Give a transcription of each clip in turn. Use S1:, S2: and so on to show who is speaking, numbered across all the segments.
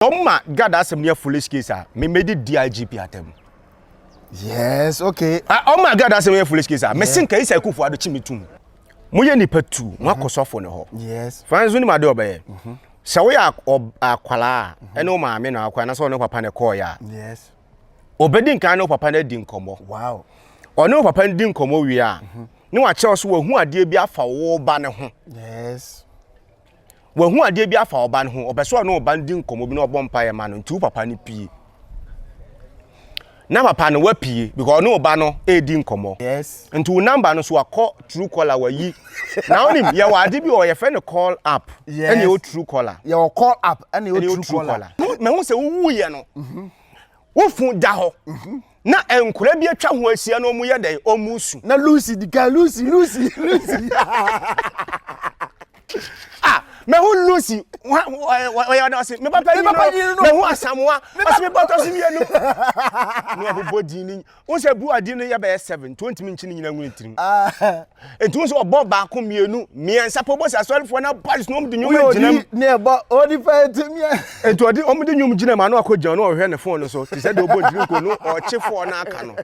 S1: Wɔn ma Gad asɛm no yɛ foolish case a me medi DIGP atam. Yes,
S2: okay. Ah, wɔn ma Gad asɛm no yɛ
S1: foolish case a me se nka Isai Kufu Ado kyi me tum. Mo yɛ nipa tu, mo akɔ sɔfo ne hɔ. Yes. Francis woni ma
S2: de ɔbɛyɛ.
S1: Mhm. Sɛ wo yɛ akwala a, ɛne wo maame na akɔ anasɛ ɔne papa na ɛkɔɔ yɛ a. Yes.
S2: Ɔbɛdi nkan
S1: ne wo papa na adi nkɔmɔ. Wow.
S2: Ɔne wo papa ndi
S1: nkɔmɔ wie a, mhm. ne wakyerɛ so wahu adeɛ bi afa wo ba ne ho. Yes. wahu adeɛ bi afa ɔba no ho ɔpɛ sɛ ɔne ɔba no di nkɔmmɔ bi na ɔbɔ mpaeɛ ma no nti wo papa no pie na papa no wapie because ɔne ɔba no ɛredi nkɔmmɔ yes. nti wo namba
S2: no so wakɔ
S1: true caller wayi na wonim yɛwɔ ade bi ɔ yɛfrɛ no call up yes. ɛne ɛwɔ true
S2: caller
S1: yɛwɔ call up
S2: ɛne ɛwɔ true caller mahu sɛ wowuyɛ
S1: no mm -hmm. Wo fun da hɔ. Na nkwadaa bi atwa ho ahyia na wɔyɛ dɛn? Wɔresu. Na Lucy di kan,
S2: Lucy, Lucy, Lucy.
S1: ah, mehu Lucy, ɔyɛ ɔda ɔse, me papa yi no, mehu Asamoa, ɔse me bɔtɔ so mmienu. Na ɔbobɔ din ni, Wohu sɛ bu adi no yɛ bɛyɛ seven nti ontumi nkyi ne nyina ngu ne tirim. Nti wohu sɛ ɔbɔ baako mmienu mmiɛnsa pɛ ɔbɔ sɛ asɔrefoɔ no abaris na wɔde nnwom agyina mu. Woyɛ odi ne ɛbɔ odi pɛ
S2: nti mmiɛ. Nti ɔde wɔn de
S1: nnwom gyina mu ano akɔ gyina no ɔhwɛ ne fon no so te sɛ deɛ ɔbɔ ntumi nkɔ no ɔkye foɔ no aka no.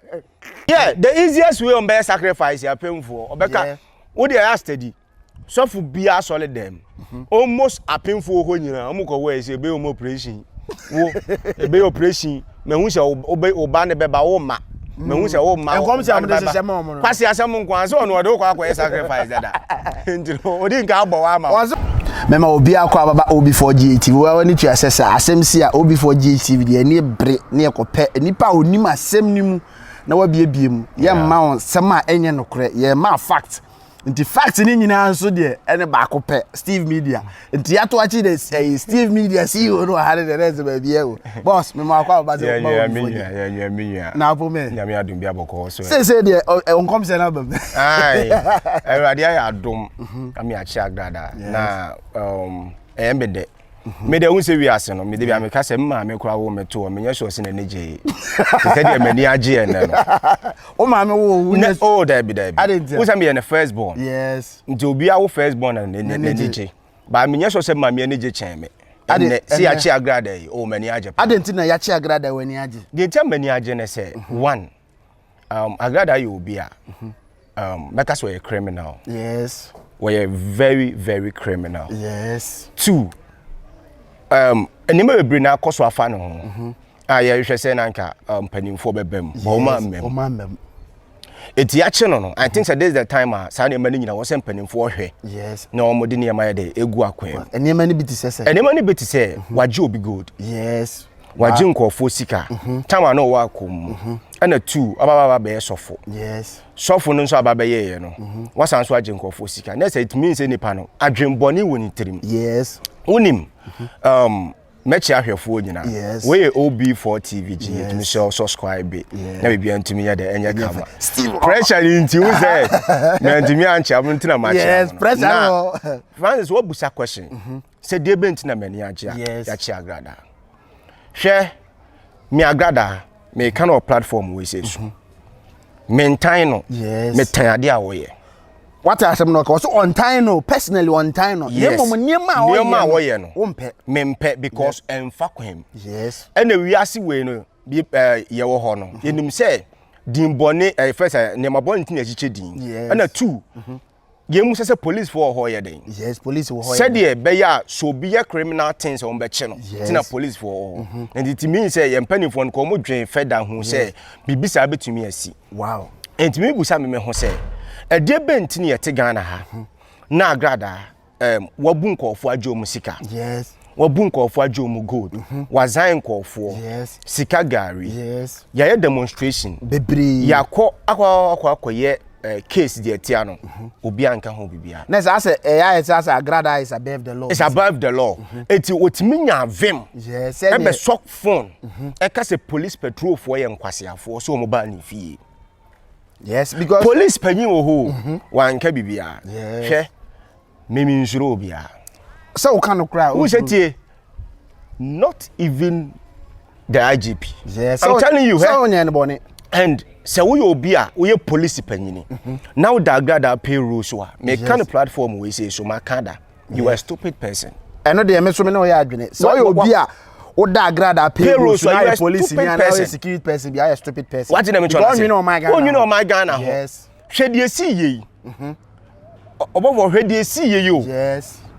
S1: Yeah the easiest way wɔn bɛyɛ sacrifice apɛmfoɔ ɔbɛka wo deɛ yɛ a steady. sɔfo biara sɔre dɛm mhm. almost apemfo hɔ nyinaa wɔn kɔ wɔ ɛsɛ ebe wɔn operation wo ebe operation na ehu sɛ ɔbɛ ɔba ne bɛba wɔn ma na ehu sɛ wɔn ma wɔn ba ne bɛba
S2: kwasi asɛm nko ara sɛ ɔno
S1: ɔde okɔ akɔ yɛ sacrifice dada nti no odi nka abɔ wa ama wɔn. mɛma obi
S2: akɔ ababa ob4 ghtv wɔn ani tua sɛ sɛ asɛm si a ob4 ghtv deɛ ɛni bere ne ɛkɔ pɛ nipa a onim asɛm ne mu na wabiebie mu yɛn mma wɔn sɛm a ɛnyɛ nokorɛ yɛn mma fact nti fact ne nyinaa nso deɛ ɛne baako pɛ steve media nti yɛato akyi de ɛyi steve media ceo no ɔha ne deɛ ɛsɛ baabi ɛ o boss mema akɔ aba sɛ woma wo mfoni
S1: na apo me nyame
S2: adom bi abɔkɔ so
S1: sese deɛ ɔnkɔm
S2: sɛ no aba mu awurade
S1: ayɛ adom mhm. ame akyɛ agrada na um, ɛyɛ mbɛdɛ me de ehun sɛ wiase no me de bi a me ka sɛ me maame kora wo me to hɔ me nyɛ sure sɛ n'ani gye te sɛ deɛ m'ani agye yɛ nnɛ no wo maame
S2: wo wo nyɛ o oh, dabi dabi
S1: wo sɛ meyɛ ne first born yes nti obi a
S2: wo first
S1: born na n'ani gye ba me nyɛ sure sɛ maame ani gye kyɛn me ɛnɛ sɛ yakye agrada yi o oh, m'ani agye pa adɛn nti na yakye agrada
S2: w'ani agye deɛ nti a m'ani agye ne
S1: sɛ mhm. one Um, Agrada yɛ obi a mhm. um, mɛka sɛ ɔyɛ criminal. Yes.
S2: Wɔyɛ
S1: very very criminal. Yes. Two, um, nneɛma bebree na akɔ so afa ne ho. Mm -hmm. A yɛhwɛ sɛ na nka um, mpanimfoɔ bɛbɛ mu. Yes, ɔma mmam. Ɔma mmam. Eti akye no no, I think sɛ this is the time a saa nneɛma no nyina wɔ sɛ mpanimfoɔ hwɛ. Yes. Na wɔn de
S2: nneɛma yɛ de
S1: egu akwan. Nneɛma no bi te sɛ sɛ.
S2: Nneɛma no bi te sɛ
S1: mhm. wagye obi gold. Yes.
S2: wagye nkurɔfoɔ
S1: sika tam a na ɔwɔ akɔm mu ɛna tu ɔba baba bɛyɛ sɔfo sɔfo
S2: no nso aba
S1: bɛyɛeɛ no wasan so agye nkurɔfoɔ sika na sɛ ɛtumi nsɛ nipa no adwenbɔne wɔ ne tirim wonim um, mɛkyɛ ahwɛfoɔ nyina woyɛ ob4 tv gye yɛtumi sɛ subscribe na biribia ntumi yɛ dɛ ɛnyɛ kama pressure ne nti wo sɛ mantumi ankyɛ mo ntina makyɛ na
S2: francis woabusa
S1: question sɛ deɛ bɛ nti na m'ani agye a Yes. yɛakye agrada hwɛ me agrada meka no wɔ platform wei sɛ su mentan no Yes. metan adeɛ a wɔyɛ wate asɛm
S2: no ɔka ɔsɛ ɔntan no personally ɔntan no na Yes. mmom nneɛma a Nneɛma a
S1: wɔyɛ no. wompɛ mempɛ because ɛmfa kwan mu yes ɛna
S2: wiase wei
S1: no bi ɛɛ yɛwɔ hɔ no yɛnim sɛ din bɔne ɛyɛ fɛ sɛ nneɛma bɔne ti na ɛkyekyɛ din Yes. ɛna two Yɛn mu sɛ sɛ police fo wɔ hɔ yɛ dɛn? Yes, police wɔ hɔ. Sɛdeɛ
S2: bɛyɛ a
S1: sɛ obi yɛ criminal thing sɛ wɔn bɛkye no. Yes. Ti na police fo wɔ hɔ. Mhm. Nti ti mi sɛ yɛn mpanimfoɔ no kɔ wɔn dwen fɛda ho sɛ biribi saa bɛtumi asi. Wow. Nti
S2: mi busa mi
S1: mi ho sɛ ɛdeɛ bɛn ti na yɛte Ghana ha mhm. na agradaa um, wabu nkɔɔfoɔ agye wɔn sika yes. wabu
S2: nkɔɔfoɔ agye
S1: wɔn gold mm -hmm. wazae nkɔɔfoɔ yes. sika
S2: gari
S1: yes. yɛayɛ
S2: demonstration
S1: bebree yɛakɔ
S2: akɔ
S1: akɔ akɔyɛ uh, case deɛ ɛtia no mhm. obi anka ho biribiara. na sɛ asɛ ɛyɛ ayɛ sɛ
S2: asɛ agrada is above the law. is above the law
S1: mhm. eti otumi nya vim ɛbɛ sɔ
S2: phone
S1: mhm. ɛka sɛ police patrolfoɔ yɛ nkwasiafoɔ so wɔn ba ne fie. yes
S2: because police panyin wɔ hɔ mhm.
S1: wanka biribiara hwɛ mimi nsoro obiara sɛ woka no
S2: koraa wo sɛ tie
S1: not even the igp yes. i'm telling you
S2: sɛ wonyɛ
S1: no bɔne
S2: and sɛ
S1: woyɛ obi a woyɛ police panyini mhm. na woda agrada payroll so a meka no platform wei sei so maka da
S2: you are a
S1: stupid
S2: person. ɛno deɛ
S1: me
S2: nso me ne
S1: ɔyɛ
S2: adwene
S1: sɛ
S2: ɔyɛ obi a woda agrada payroll so na yɛ police ni ana yɛ security person bi ayɛ stupid person wagye na me tɔn
S1: ase ɔnwene ɔman
S2: ghana ho
S1: hwɛ deɛ
S2: si yie
S1: yi mhm. ɔbɔfo hwɛ deɛ si yie yi o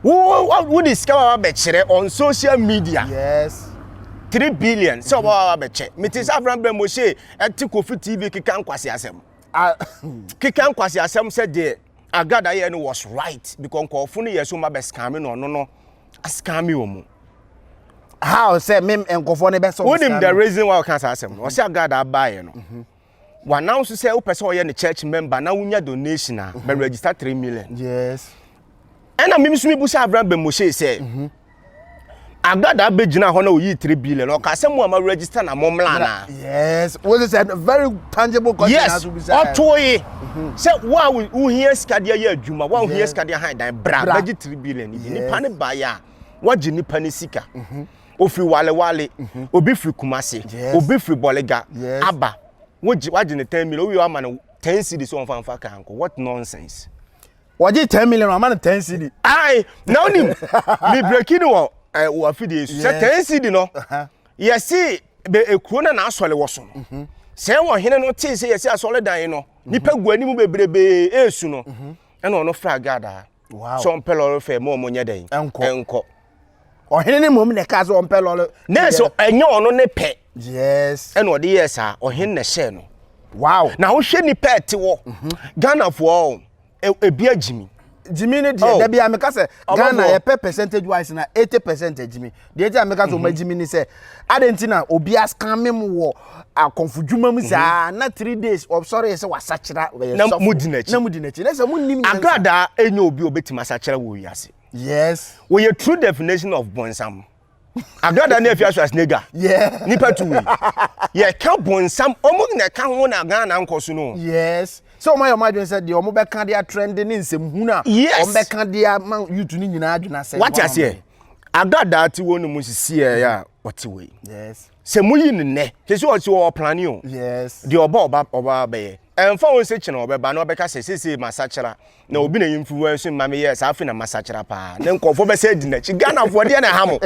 S1: wo
S2: wo de
S1: sika wa bɛkyerɛ on social media yes.
S2: three billion
S1: sɛ ɔbɔ wa bɛkyɛ mete sɛ afran brɛ mo se ɛte kofi tv keka nkwasi asɛm keka nkwasi asɛm sɛ deɛ Agad ayɛ no was right because nkɔɔfo no yɛ so ma bɛ scam no ɔno no scam wɔn.
S2: How sɛ me nkɔɔfo no bɛ sɔ. Wonim the reason why ɔka
S1: saa asɛm no ɔsɛ Agad abaayɛ no. Mhm. Wa announce sɛ wopɛ sɛ ɔyɛ ne church member na wonya donation a bɛ mhm. register three million. Yes.
S2: Ɛna
S1: mimi so mi bu sɛ Avram Ben Moshe sɛ. Mhm. Agada bɛ gyina hɔ na oyi three billion ɔka sɛ mo a ma register na mo mla na. yes wọ́n sẹ sẹ
S2: very tangible question yes aso bisa yes ọtọ
S1: yi mhm. sẹ wọ́n a wohia sika de ayẹ adwuma wọ́n a wohia sika de ahan dan bra bẹgye three billion bi nipa ne ba yẹ a wagye nipa ne sika mhm. ofiri walewale mhm. obi firi kumase obi firi bọlega aba wagye ne ten million owi ama no ten cedis ọnfanfa kan ko what nonsense. wɔgye ten
S2: million ama no ten cd. ayi na onim
S1: mi breki no wɔ ɛ wɔ afidie so sɛ ten cd no yɛsi bɛ ekuro na n'asɔre wɔ so no mhm. sɛ wɔ hene no tee sɛ yɛsi asɔre dan yi no mhm. nipa gu anim bebrebe esu no mhm. ɛna ɔno fra gada sɛ ɔmpɛ
S2: lɔre fɛ mo
S1: ɔmo nyɛ dɛn ɛnkɔ. ɔhene
S2: no mmom na ɛkaa sɛ ɔmpɛ lɔre nanso ɛnyɛ
S1: ɔno ne pɛ yes ɛna ɔde yɛɛ
S2: saa
S1: ɔhene na ɛhyɛɛ no wow na wohwɛ
S2: nnipa
S1: ɛte wɔ mhm. ghanafoɔ ebi agyimi jimmy ne deɛ oh.
S2: dabi ameka sɛ ghana yɛpɛ percentage wise na eighty percent jimmy deɛ ti ameka sɛ ɔma jimmy ni sɛ adan ti na obi asikamme mu wɔ akɔnfo dwuma mu saa na three days ɔsɔre yɛ sɛ wasakyera ɔyɛ sɔfo na mu di n'akyi
S1: na mu di n'akyi na sɛ mu nim
S2: nyansa agradaa enye
S1: obi obetumi asakyera wɔ wiase. Yes. Wɔ yɛ
S2: true definition
S1: of bonsam. Adwa da na efi aso asine dwa. Yeah. Nipa tu wi. Yɛ ka bonsam ɔmo na ɛka ho na Ghana nkɔ so no. Yes. Sɛ ɔmo
S2: ayɛ ɔmo adwene sɛ deɛ ɔmo bɛka de atrɛnde ne nsɛm hu na. Yes. Ɔmo bɛka de ama yutu ne nyinaa adwene asɛ. Wate aseɛ.
S1: Adwa da te wɔn mu sisi yɛ a ɔte wɔ yi. Yes. sɛ moyi
S2: no nnɛ
S1: te sɛ ɔsi wɔ ɔplane o deɛ ɔba ɔba
S2: ɔba
S1: bɛyɛ ɛnfa wɔn sɛ kyena ɔbɛba na ɔbɛka sɛ sese masakyera na obi na yɛmfi wɔn so mma meyɛ saa afei na masakyera paa ne nkɔfoɔ bɛsɛ adi n'akyi ghanafoɔ ɛdeɛ na ɛha mo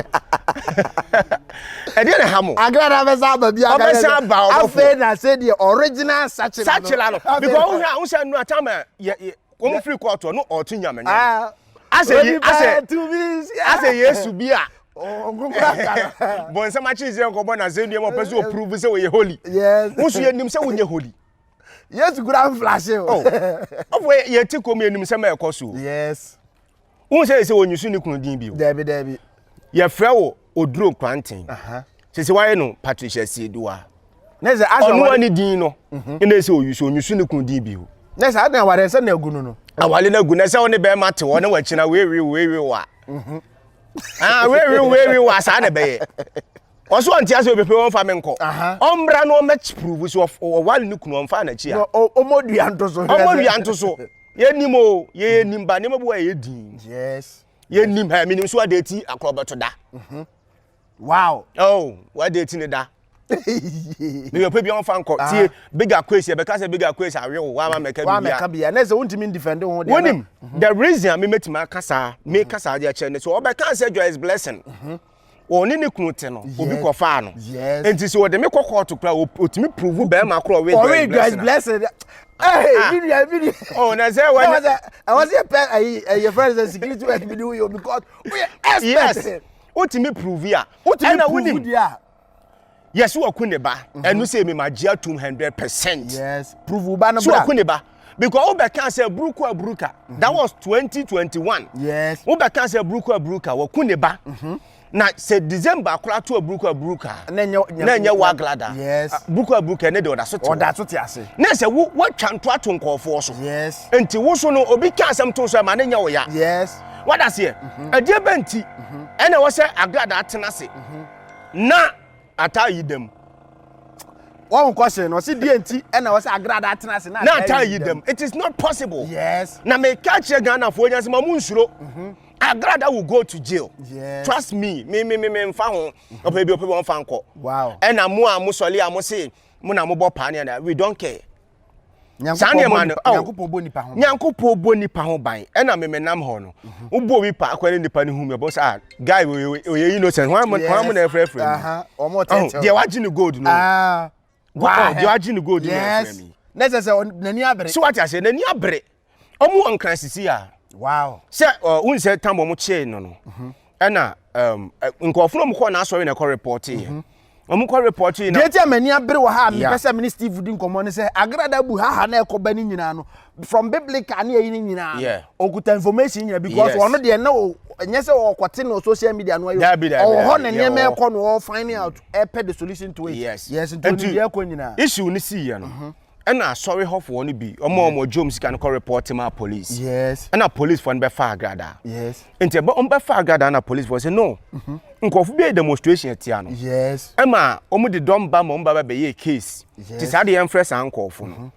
S1: ɛdeɛ na ɛha mo agrada bɛsɛ aba bi
S2: ɔbɛsɛ aba ɔbɔfoɔ afei na sɛ deɛ original sakyera no sakyera no because wohwɛ a
S1: wosɛ nnura tam a yɛ Wɔn mu firi kɔ ɔtoɔ no ɔɔto nyamenyam. Ah, Asɛ ye- onipa asɛ- tumi si- ah. Asɛ Yesu bi a Oh, nkokora ka no. bɔnsɛm akyere sɛ nkɔbɔ no asɛnnua ma ɔpɛ sɛ ɔprove sɛ ɔyɛ holy. Yes. Wo nso yɛnim
S2: sɛ wonyɛ
S1: holy. Yesu kura
S2: mflashe o. Oh.
S1: Ɔfo yɛ- yɛte kom yɛnim sɛm a ɛkɔ so o. Yes.
S2: wohu sɛ
S1: sɛ wɔnyi so ne kunu din bio daabi daabi
S2: yɛfrɛ wo
S1: oduro kwanten sɛ sɛ wayɛ no patricia sieduwa
S2: ɔnoa ne din no
S1: mhm. ɛna sɛ ɔyi so ɔnyi so ne kunu din bio na sɛ adan aware sɛ
S2: na agu no no awale no agu na sɛ wo
S1: ne bɛrima te hɔ ne wakyina weewe weewe wa mhm. ah, weewe weewe wa saa na ɛbɛyɛ Ɔso ɔnte ase obepe wɔn fa me nkɔ. Ɔmbra na ɔmɛ prove so ɔwale ne kunu ɔmfa n'akyi a. Ɔmɔ dua nto so.
S2: Ɔmɔ dua nto
S1: so. Yɛ nim o yɛ yɛ nim ba nneɛma bi wɔ yɛ yɛ din. Yes. Yɛ
S2: nim ha mi
S1: nim so ade ti akorɔ bɛto da.
S2: Mhm. Wow. Oh
S1: wade ti ne da. Ne yɛ pɛ bi ɔmfa nkɔ tie big akwes yɛ bɛka sɛ big akwes awe o wa ma mɛka bi bia. Wa mɛka bia na sɛ wontimi
S2: ndefend ho de. Wonim the reason
S1: a me metimi akasa me kasa de akyɛ ne so ɔbɛka sɛ joyous blessing. Mhm. ɔne ne kunu te no obi kɔfaa no nti sɛ ɔde me kɔ kɔɔto kora ɔtumi puruvu bɛrima korɔ ɔwe guys blessing
S2: video video oh na sɛ wɔn
S1: sɛ ɛwɔ sɛ yɛpɛ
S2: ɛyɛ fɛn sɛ security work bi de woyɛ because woyɛ expert yes
S1: wotumi puruvu a ɛna wonim Yes, wɔ ku ne ba. Mhm. Ɛnu sɛ mi ma gye atum hundred percent. Yes, prove wo
S2: ba no bra. So wɔ ku ne ba. Because
S1: wo bɛka sɛ buruku aburuka. Mhm. That was twenty twenty one. Yes. Wo bɛka
S2: sɛ buruku
S1: aburuka wɔ ku ne ba. Mhm. Na sɛ December kora to buruku aburuka. Na nyɛ wa glada. Yes. Ah, buruku aburuka
S2: ne de ɔda
S1: so te. Ɔda so te ase. Na
S2: sɛ wo watwa
S1: nto ato nkɔɔfoɔ so. Yes. Nti wo so
S2: no obi
S1: ka asɛm to so ɛma ne nyɛ wo ya. Yes. Wadaseɛ. Ɛdeɛ bɛ nti. Ɛna wɔ sɛ aglada atena se. na ata yi dɛm
S2: wɔn kɔ se no ɔsi deɛ nti ɛna ɔsɛ agrada atena ase na ata yi dɛm it is
S1: not possible yes na me ka
S2: kyerɛ
S1: ghanafoɔ nyɛ sɛ ma mu nsuro mm-hmm. agrada will go to jail yes. trust me
S2: me me
S1: me me nfa ho mm-hmm. ɔpɛ bi ɔpɛ bi wɔn fa nkɔ wow ɛna mo a mo sɔli a mo se mo na mo bɔ paa ne ɛna we don't care. saa nneɛma no oh,
S2: nyankopɔn bɔ nipa ho
S1: ban ɛna memenam hɔ no mhm. wobɔ obi pa akɔ ne nipa no hu me bɔ sɛ ah, guy ɔyɛ innocent hwan mu na ɛfrɛfrɛ mu oh,
S2: deɛ wagye ne gold
S1: no ah, oh, deɛ wagye ne gold no ɛfrɛ me na sɛ sɛ n'ani
S2: abere so wate aseɛ n'ani abere
S1: wɔn wɔ nkrasisi a wow sɛ
S2: wɔn sɛ
S1: tam wɔn kyee no no mhm. ɛna um, nkurɔfo na wɔn kɔ n'asɔre na ɛkɔ repɔte yɛ mhm. wɔn kɔ repɔte yi na. deɛ ti a mani abere wɔ ha a
S2: mepɛ sɛ mene steve di nkɔmɔ ne sɛ agrada bu haha na ɛkɔ ba ne nyinaa no from biblical ne ɛyi ne nyinaa no ɔkuta information nyinaa because ɔno deɛ na o ɛnyɛ sɛ ɔkɔte no social media no ayɛ ɔwɔ hɔ ne nneɛma ɛkɔ no ɔwɔ finding out ɛpɛ the solution to it yes yes nti ɔni deɛ
S1: ɛkɔ
S2: nyinaa issue ne si yɛ no.
S1: Mhm. Ɛna asɔre hɔfoɔ no bi ɔmo ɔmo gye ɔmo sika no kɔ report maa police. Yes. Ɛna police
S2: foɔ no bɛ
S1: fa agradaa. Yes. Nti ɛbɛ
S2: ɔmo bɛ fa
S1: agradaa na police foɔ sɛ no. Mhm. Nkɔfo bi yɛ demonstration ɛtia no. Yes. Ɛma
S2: ɔmo de dɔm
S1: ba ma ɔmo ba bɛ bɛyɛ case. Yes. Ti saa de yɛn frɛ saa nkɔfo no. Mhm.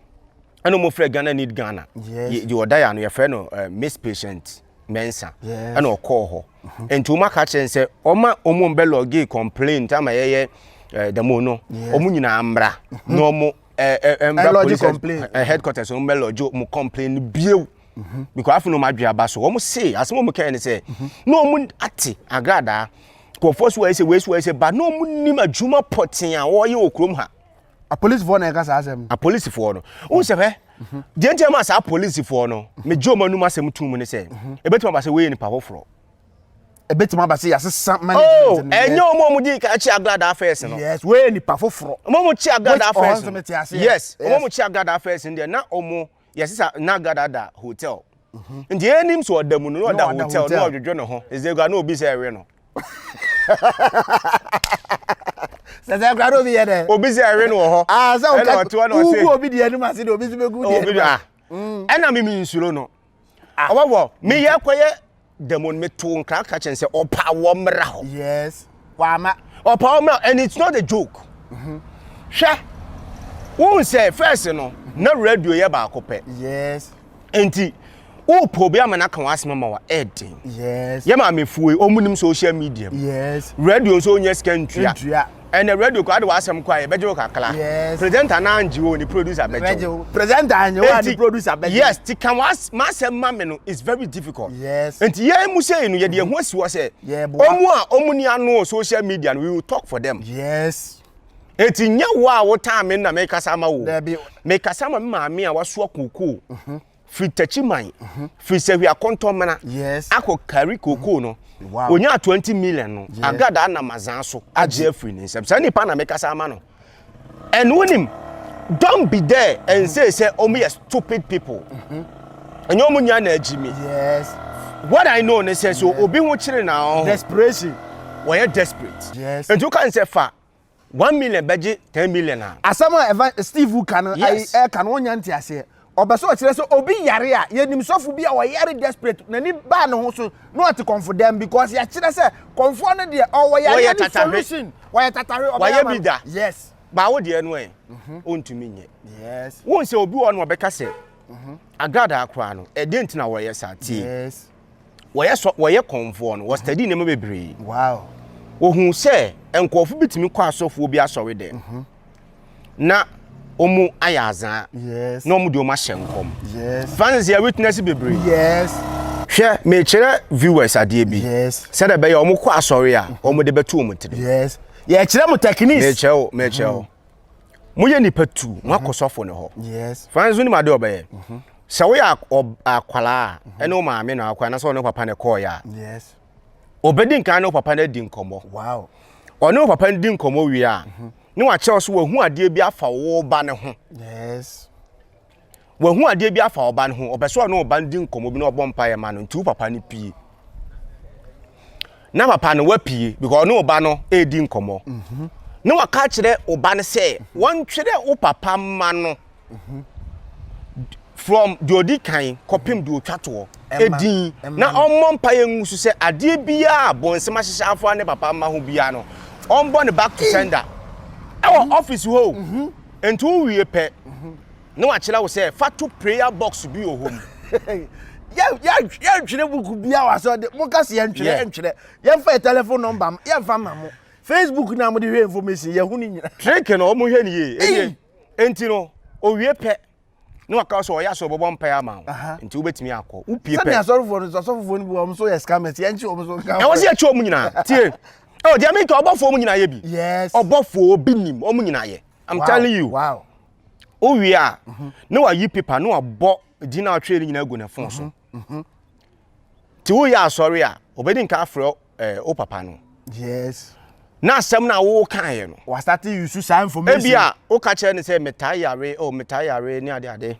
S1: Ɛna ɔmo frɛ Ghana need Ghana. Yes. Yɛ ɔda yɛ ano
S2: yɛ frɛ no
S1: uh, eh, miss patient. mɛnsa ɛna ɔkɔɔ hɔ mhm. nti wɔn aka kyerɛ nsɛ wɔn a wɔn bɛ lɔgi complain nti ama yɛyɛ ɛɛ dɛmo no wɔn nyinaa mmra mhm. na wɔn ɛɛ ɛɛ mbra police ɛɛ headquarters wɔn bɛ lɔgi wɔn complain no biew mhm. because afei na wɔn adwe aba so wɔn se asɛm wɔn kɛn ne sɛ na wɔn ate agradaa kɔfɔ so wɔyɛ sɛ wɔyɛ sɛ wɔyɛ sɛ ba na wɔn nim adwuma pɔtee a wɔyɛ wɔ kurom ha. apolisifoɔ na
S2: ɛka saa asɛm no apolisifoɔ no
S1: wohu sɛ hwɛ deɛ nti ama saa apolisifoɔ no megye ɔma num asɛm to mu ne sɛ ɛbɛtumi aba sɛ woyɛ nipa foforɔ ɛbɛtumi
S2: aba sɛ yɛasesa oh, management no ɛnyɛ ɔma ɔmo di
S1: kan kye agradaa fɛs no yes woyɛ nipa foforɔ
S2: ɔma ɔmo kye agradaa
S1: fɛs no yes ɔma ɔmo kye agradaa fɛs no deɛ na ɔmo yɛsesa na gada da hotel mhm. nti yɛnim sɛ ɔda mu no na ɔda hotel na ɔdwodwo ne ho ɛsɛ kura na obi sɛ ɛwe no
S2: sɛsɛ kura na obi yɛ dɛ obi sɛ ɛwe no wɔ hɔ
S1: ah, ɛna ɔte hɔ na
S2: ɔse wogu obi
S1: deɛ anim
S2: ase de obi nso bɛgu deɛ anim ah. mm. ɛna
S1: mimi nsuro no ɔbɔbɔ ah. meyɛ kɔyɛ da mu no metoo nkra ka kyɛn sɛ ɔpa wɔ mmra hɔ yes wama
S2: ɔpa wɔ mmra and
S1: it's not a joke mm-hmm. hwɛ wohu sɛ first no na radio yɛ baako pɛ yes
S2: nti
S1: wopɛ obi ama no aka wɔ asɛm ma wɔ ɛden yes yɛ maamefo
S2: yi
S1: ɔmunim social media mu yes radio
S2: nso ɔnyɛ sika
S1: ntua Ɛnɛ radio koraa de w'asɛm kɔ a yɛbɛgye wo kakra. Yes. Presenter no
S2: angye wo ne
S1: producer bɛgye Bɛgye wo. wo. Presenter anyɛ wo a ne
S2: Enti, producer bɛgye wo. yes, ti ka w'as-
S1: m'asɛm ma me no is very difficult. Yes. Enti yɛn
S2: mu sei no
S1: yɛde yɛn ho asi hɔ sɛ Yɛboa. ɔmo a ɔmo ni ano wɔ social media no we will talk for them. Yes.
S2: Enti nyɛ
S1: wo a wotaa me na mekasa ama wo. Dabi. Mekasa ama me maame a wasoa kookoo. firi Techiman, firi Sehwia Kɔntɔmmena akɔ
S2: Kari Kookoo
S1: no, ɔnyaa 20
S2: million
S1: no, Agada anam azaa so agye afiri ne nsam. Saa nipa na mekasa ama no. And wonim, don't be there and say sɛ ɔmo yɛ stupid people. Ɛnyɛ ɔmo nyinaa na agyi mi. Yes.
S2: What I know
S1: ne sɛ so obi ho kyere na ɔho. Desperation.
S2: Wɔyɛ
S1: desperate. Yes. Nti woka n sɛ
S2: fa
S1: One million bɛgye ten million a. Asɛm a Evan Steve
S2: wu ka no ayi ɛka no ɔnya nteaseɛ ɔpɛ sɛ ɔkyerɛ sɛ obi yare a yɛnim sɔfo bi a ɔyare desperate n'ani baa ne ho so na ɔte kɔmfo dɛm because yɛakyerɛ sɛ kɔmfoɔ no deɛ ɔwɔ yareɛ ne solution wɔyɛ tatahwe ɔbɛyɛ ama no yes
S1: baa wo
S2: deɛ no ɛ
S1: ɔntumi nyɛ yes wohu sɛ
S2: obi wɔ no
S1: ɔbɛka sɛ agradaa koraa no ɛdeɛ nti na wɔyɛ saa tie
S2: wɔyɛ sɔ wɔyɛ
S1: kɔnfoɔ no wɔstudy nneɛma bebree wow
S2: wɔhu
S1: sɛ nkurɔfo bitumi kɔ asɔfoɔ bi asɔre dɛ mhm. na wɔn ayɛ azaa na wɔn de wɔn
S2: ahyɛ nkɔm
S1: francis yɛ
S2: witness
S1: bebree
S2: hwɛ
S1: mekyerɛ viewers adeɛ bi sɛdeɛ bɛyɛ wɔn
S2: kɔ
S1: asɔre a wɔn de bɛto wɔn tiri yɛkyerɛ
S2: mo techniques mekyerɛ wo mekyerɛ wo mhm.
S1: moyɛ nipa tu mo akɔ sɔfo no hɔ yes fine so nim
S2: ade ɔbɛyɛ
S1: mhm. sɛ woyɛ akwalaa a mhm. ɛne wo maame na akɔ anasɛ ɔne papa na ɛkɔɔ yɛ a yes
S2: ɔbɛdi nkan
S1: ne wo papa no adi nkɔmmɔ wow
S2: ɔne wo papa no
S1: di nkɔmmɔ wie a mhm. ne wakyerɛ wo so wahu adeɛ bi afa wo ba no ho yes Wahu adeɛ bi afa ɔba no ho, ɔpɛ sɛ ɔne ɔba no di nkɔmmɔ bi na ɔbɔ mpaeɛ ma no nti wo papa no pie. Na papa no wapie because ɔne ɔba no redi nkɔmmɔ. Mhm. Na waka kyerɛ ɔba no sɛ wɔntwerɛ wo papa mma no mhm. from deɛ ɔdi kan kɔpem deɛ ɔtwa toɔ ɛdin na ɔmmɔ mpaeɛ ngu so sɛ adeɛ biara bɔnsɛm ahyehyɛ afa ne papa mma ho biara no ɔmbɔ ne back to sender ɛwɔ ɔfisi hɔ o. Mhm. Enti wo wie pɛ na wakyerɛ wo sɛ fa to prayer box bi wɔ hɔ mu. yɛ
S2: yɛ yɛ ntwerɛ buku bi a wasɛ ɔde mo kasi yɛ ntwerɛ yɛ ntwerɛ yɛ nfa yɛ telephone number mo yɛ nfa ma mo facebook na mo de hwɛ information yɛ hu ne
S1: nyina.
S2: trick
S1: no ɔmo hwɛ
S2: ne
S1: yie ɛni enti no owie pɛ na waka wo sɛ ɔyɛ asɛ ɔbɛbɔ mpaeɛ ama wo nti wobɛtumi akɔ wopie pɛ sɛdeɛ asɔrefoɔ no so asɔfofoɔ
S2: no bi wɔn so yɛ scammers yɛnkye wɔn so nka ɛwɔ sɛ yɛkye wɔn nyinaa
S1: tie ɛwɔ deɛ meka ɔbɔfoɔ mu nyinaa yɛ bi yes ɔbɔfoɔ
S2: bi nim
S1: wɔn nyinaa yɛ i'm wow. telling you wow
S2: wowie a
S1: mhm. ne wayi pepa ne wabɔ din a ɔtwerɛ no nyinaa agu ne fon so mhm. mhm. nti woyɛ asɔre a ɔbɛdi nka afrɛ ɛɛ wo papa no. yes.
S2: na asɛm no
S1: a wokaeɛ no. wasate yusu saa
S2: information. ebi a woka kyerɛ no
S1: sɛ metaa yare o oh, metaa yare ne ade ade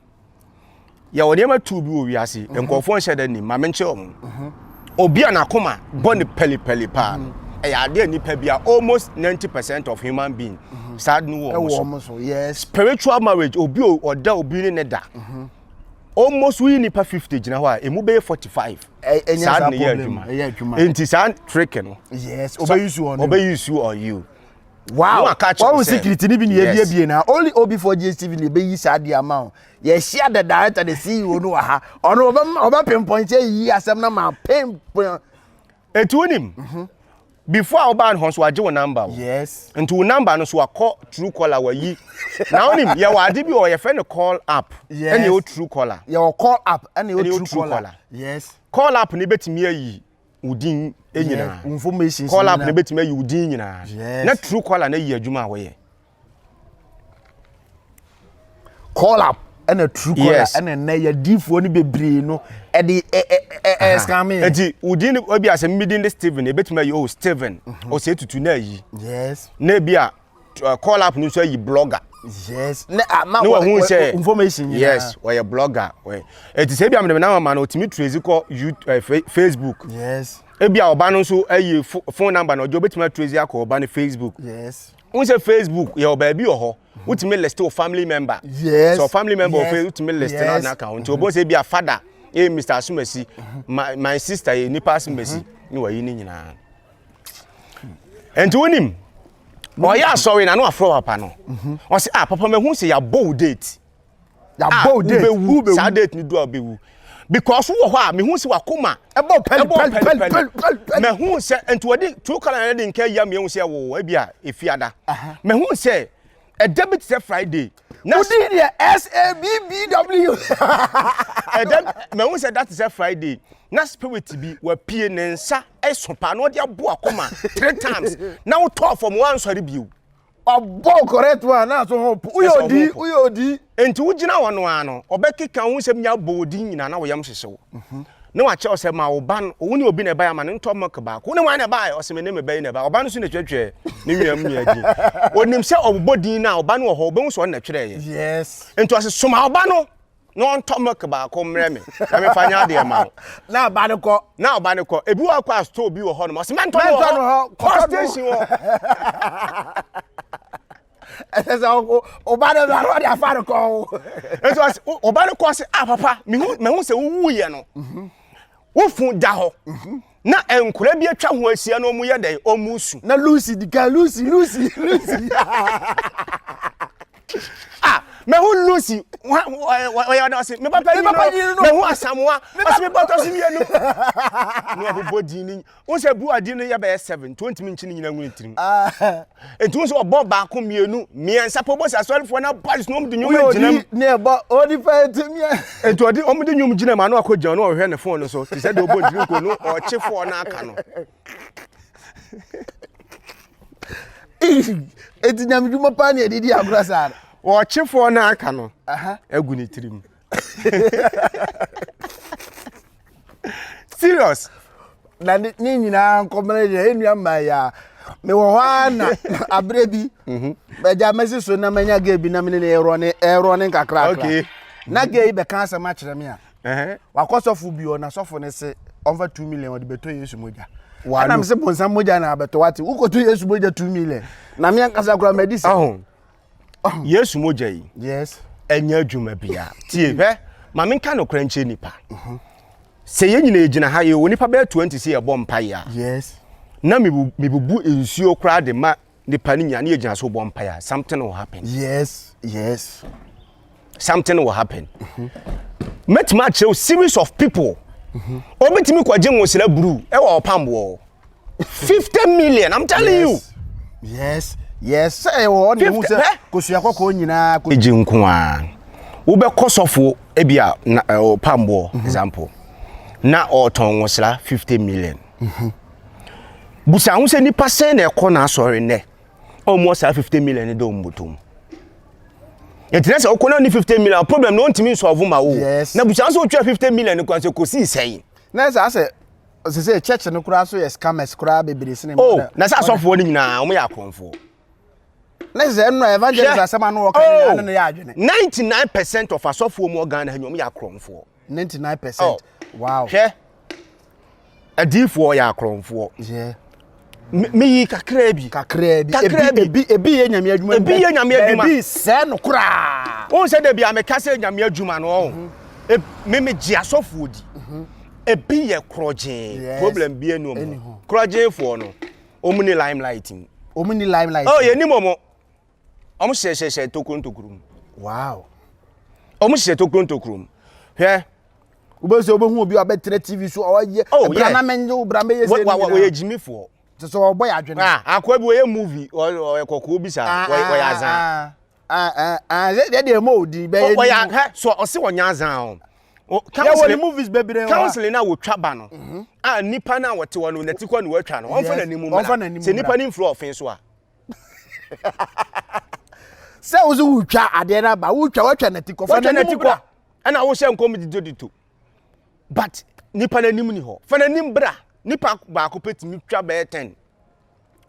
S1: yɛwɔ nneɛma tu bi wɔ wiase mhm. nkurɔfoɔ nhyɛ da nim maame nkyerɛ wɔn mhm. obi a n'akoma bɔ ne pɛlipɛli paa no mhm. ɛyɛ adeɛ nipa bi a almost ninety percent of human being saa no wɔ wɔn so spiritual
S2: marriage
S1: obi ɔda obi ne ne da. Mm -hmm. almost woyi nipa fifty gyina hɔ a emu bɛyɛ forty five. ɛnyɛ saa de ne yɛ adwuma ɛyɛ adwuma nti saa trick no. yes ɔbɛyi su on
S2: you ɔbɛyi su on you. wow
S1: wɔn security
S2: ni bi ni ebie bie na only obi for gstv ni ebeyi saa di ama o yɛhyia the director the ceo no wɔ ha ɔno ɔbɛ ɔbɛ pinpoint eyi asɛm na ma pinpoint. Eti wonim.
S1: Mhm. Before a wobaa no hɔ nso wagye wo number wo. Yes. Nti wo number
S2: no so
S1: wakɔ true caller wayi. Na wonim yɛwɔ ade bi wɔ yɛfrɛ no call app. Yes. Ɛne ɛwɔ true caller. Yɛwɔ call app
S2: ɛne ɛwɔ true, true caller. caller. Yes. Call app ne bɛtumi
S1: ayi wo din nyinaa. Yes. Information. Call app
S2: ne bɛtumi ayi
S1: wo din nyinaa. Yes. Na true caller na yi adwuma a wɔyɛ.
S2: call up ɛna true call yes. ɛna nnɛ yɛ diifoɔ no bebree no ɛde ɛscan me. eti wudin
S1: no ebi asɛm mi din de steven ebetumi ayi o oh, steven mhm. ɔsɛ tutu na ayi yes na ebi
S2: a
S1: uh, call up no nso ayi blogger
S2: yes ne ama ah, wɔ ho sɛ information nyinaa yes ɔyɛ
S1: blogger ɔyɛ eti sɛ ebi amena na ama no otumi trace kɔ youtube eh, facebook yes
S2: ebi a ɔba no nso
S1: ayi phone number na ɔjɔ obetumi atrace akɔ ɔba no facebook yes Wohu sɛ
S2: Facebook
S1: yɛwɔ baabi wɔ hɔ, wotumi list wo family member. Yes. So family
S2: member yes. wɔ
S1: wotumi list yes. na ka ho. Nti obo sɛ bi a father, eh Mr. Asumasi, my, my sister eh nipa Asumasi, ne wayi ne nyinaa. Nti wonim, ɔyɛ asɔre na no afrɛ papa no. Ɔsɛ, ah papa mahu sɛ yɛabɔ wo date. a wobɛwu saa date no du a wobɛwu because wɔ hɔ a mehu sɛ wakoma ɛbɔ pɛlipɛlipɛli mahu sɛ nti wɔde two color na de nka yia mehu sɛ ɛwo ebi a efi ada mahu sɛ ɛda bi te sɛ friday na wodi deɛ
S2: sabbw
S1: ɛda mahu sɛ ɛda te sɛ friday na spirit bi wapie ne nsa ɛso paa na ɔde abo akoma three times na wotɔɔ fam wansɔre bio ɔbɔ wo
S2: correct one na so ho po woyɛ odi woyɛ odi nti wogyina
S1: hɔ no ara no ɔbɛkeka wo nsɛm nyinaa bɔ odi nyinaa na wo yam hyehye wo mhm. na wakyɛ ɔsɛ ma wo ba no wo ne obi na ɛbae ama no ntɔ milk baako wo ne wɔn na ɛbae ɔsɛ me ne me ba yi na ɛbae ɔba no so na twɛtwɛ ne nwiam nyɛ din onim sɛ ɔbobɔ din na ɔba no wɔ hɔ ɔbɛhu sɛ ɔno na twerɛeɛ yes nti ɔsɛ
S2: soma ɔba
S1: no na ɔntɔ milk baako mmerɛ me na mefa nyɛ adeɛ ma wo na ɔba no kɔ
S2: na ɔba no kɔ ebi wɔ kɔ a store bi wɔ
S1: hɔ nom ɔsɛ mɛntɔ no wɔ hɔ kɔ station wɔ
S2: ɛsɛ sɛ ɔba no na ɔde afa no kɔ ɛsɛ ɔsɛ
S1: ɔba no kɔ sɛ ah papa mehu mehu sɛ wowu yɛ no mhm. wofu da hɔ mhm. Na nkwadaa bi atwa ho ahyia na wɔyɛ dɛn? Wɔresu. Na Lucy di kan,
S2: Lucy, Lucy, Lucy. ah,
S1: mehu Lucy, ɔyɛ ɔda ɔse, me papa yi no, mehu Asamoa, ɔse me bɔtɔ so mmienu. Na ɔbobɔ din no, wo sɛ bu adi no yɛ bɛyɛ seven, nti ɔntumi nkyi no nyina ngu ne tirim. Ah. Enti wo sɛ ɔbɔ baako mmienu mmiɛnsa pɛ ɔbɔ sɛ asɔrefoɔ no boys na wɔn de nnwom gyina mu. ne ɛbɔ ɔdi
S2: pɛ etimi ɛ. Enti ɔde wɔn de nnwom
S1: gyina mu ano akɔ gyina no ɔhwɛ ne fon no so te sɛ deɛ ɔbɔ ntiri nko no ɔkye fɔɔ no aka no.
S2: Enti nyamedwuma paa ne ɛde di agorɔ saa no. Ɔkye fɔɔ no
S1: aka no agu ne tirim. serious na ne
S2: nyinaa nkɔmmerɛ yɛ ɛnua mmaa yi a mewɔ hɔ ara na aberɛ bi mhm. agya mɛsi so na manya gay bi na mene ne ɛrɔ ne ɛrɔ ne nkakrakra na
S1: gay bɛka
S2: asɛm akyerɛ me a wakɔ sɔfo bi ɔ na sɔfo ne se ɔmfa two million ɔde bɛtɔ yesu mogya ana me se bonsam mogya na abɛtɔ wate wokɔtɔ yesu mogya two million na me ankasa koraa madi sɛ
S1: yesu mogya yi yes ɛnyɛ
S2: adwuma
S1: bia tie mm. hwɛ ma menka nokorɛ nkyɛ nipa mm-hmm. sɛ yɛn nyina yɛgyina ha yɛ onipa bɛyɛ 20 sɛ yɛbɔ mpaeɛ a yes na mebubu nsuo koraa de ma nipa no nyina ne yɛgyina so bɔ mpaeɛ a something will happen yes yes something will happen mɛtumi akyerɛ wo series of people obitumi kɔgye nwosira buru ɛwɔ ɔpamboɔ fifty million i'm telling you. yes
S2: yes
S1: sɛ
S2: ɛwɔ hɔ na ehu sɛ kosua kɔkɔɔ nyinaa. egye nko
S1: ara wobɛkɔ sɔfo ebi a na ɔpamboɔ mhm. example na ɔtɔn nwosira fifty million. Mhm. busa ho sɛ nipa sɛn na ɛkɔ n'asɔre nnɛ. ɔmmɔ saa fifty million no dɛ ɔmbɔtɔ mu ɛkyerɛ sɛ ɔkɔ na ne fifty million problem na ɔntumi nsɔɔvo ma wo na busua nso ɔtwa fifty million no kwan sɛ kɔsii sɛn na ɛsɛ
S2: sɛ sɛ church no koraa so yɛ scammers koraa bebree sene oh na sɛ asɔfoɔ no
S1: nyinaa wɔn yɛ akorɔmfoɔ
S2: na sɛ ɛno evangelist asɛm ano wɔka nyinaa no yɛ adwene 99 percent of
S1: asɔfoɔ mu ɔgan na wɔn yɛ akorɔmfoɔ ninety nine percent
S2: wow hwɛ
S1: adiifoɔ yɛ akorɔmfoɔ
S2: meyi
S1: kakraa bi kakraa bi kakraa bi ebi
S2: ebi yɛ nyame adwuma ebi yɛ nyame adwuma ebi sɛɛ no koraa wɔn sɛ de bi a meka
S1: sɛ nyame adwuma no ɔn mhm. e, me me gye asɔfoɔ di mhm. ebi yɛ korɔgyee problem bi enu ɔmo korɔgyeefoɔ no ɔmo ni limelight mu ɔmo ni limelight mu ɔ yɛ nim ɔmo wɔn hyehyɛhyɛ tokuro ntokuro mu wow
S2: wɔn
S1: hyehyɛ tokuro ntokuro mu hwɛ. wobɛsɛ
S2: wobɛhu obi a ɔbɛtena tv so ɔyɛ oh, bra na menye wo bra mɛyɛ sɛ wɔyɛ gyimifoɔ
S1: te sɛ ɔbɔ yɛ adwene
S2: ah, akoa bi wɔyɛ
S1: movie ɔyɛ kɔkɔɔ bi saa ah, wɔyɛ ah, azan ɛdeɛ deɛ ɛma ɔdi bɛyɛ
S2: ɔyɛ so ɔse
S1: wɔnyɛ azan o counseling
S2: movies bebree counseling na wotwa ba
S1: no mhm. a nipa na wɔte hɔ no nati kɔ na wɔatwa no wɔmfa n'anim mu mmra sɛ nipa no mfiri ɔfen so a
S2: sɛ wo so wotwa adeɛ no aba wotwa watwa nati kɔ fa n'anim bra ɛna wohyɛ nkɔm
S1: didodito but nipa n'anim ni hɔ fa n'anim bra nipa baako pɛ tumi twa bɛyɛ ten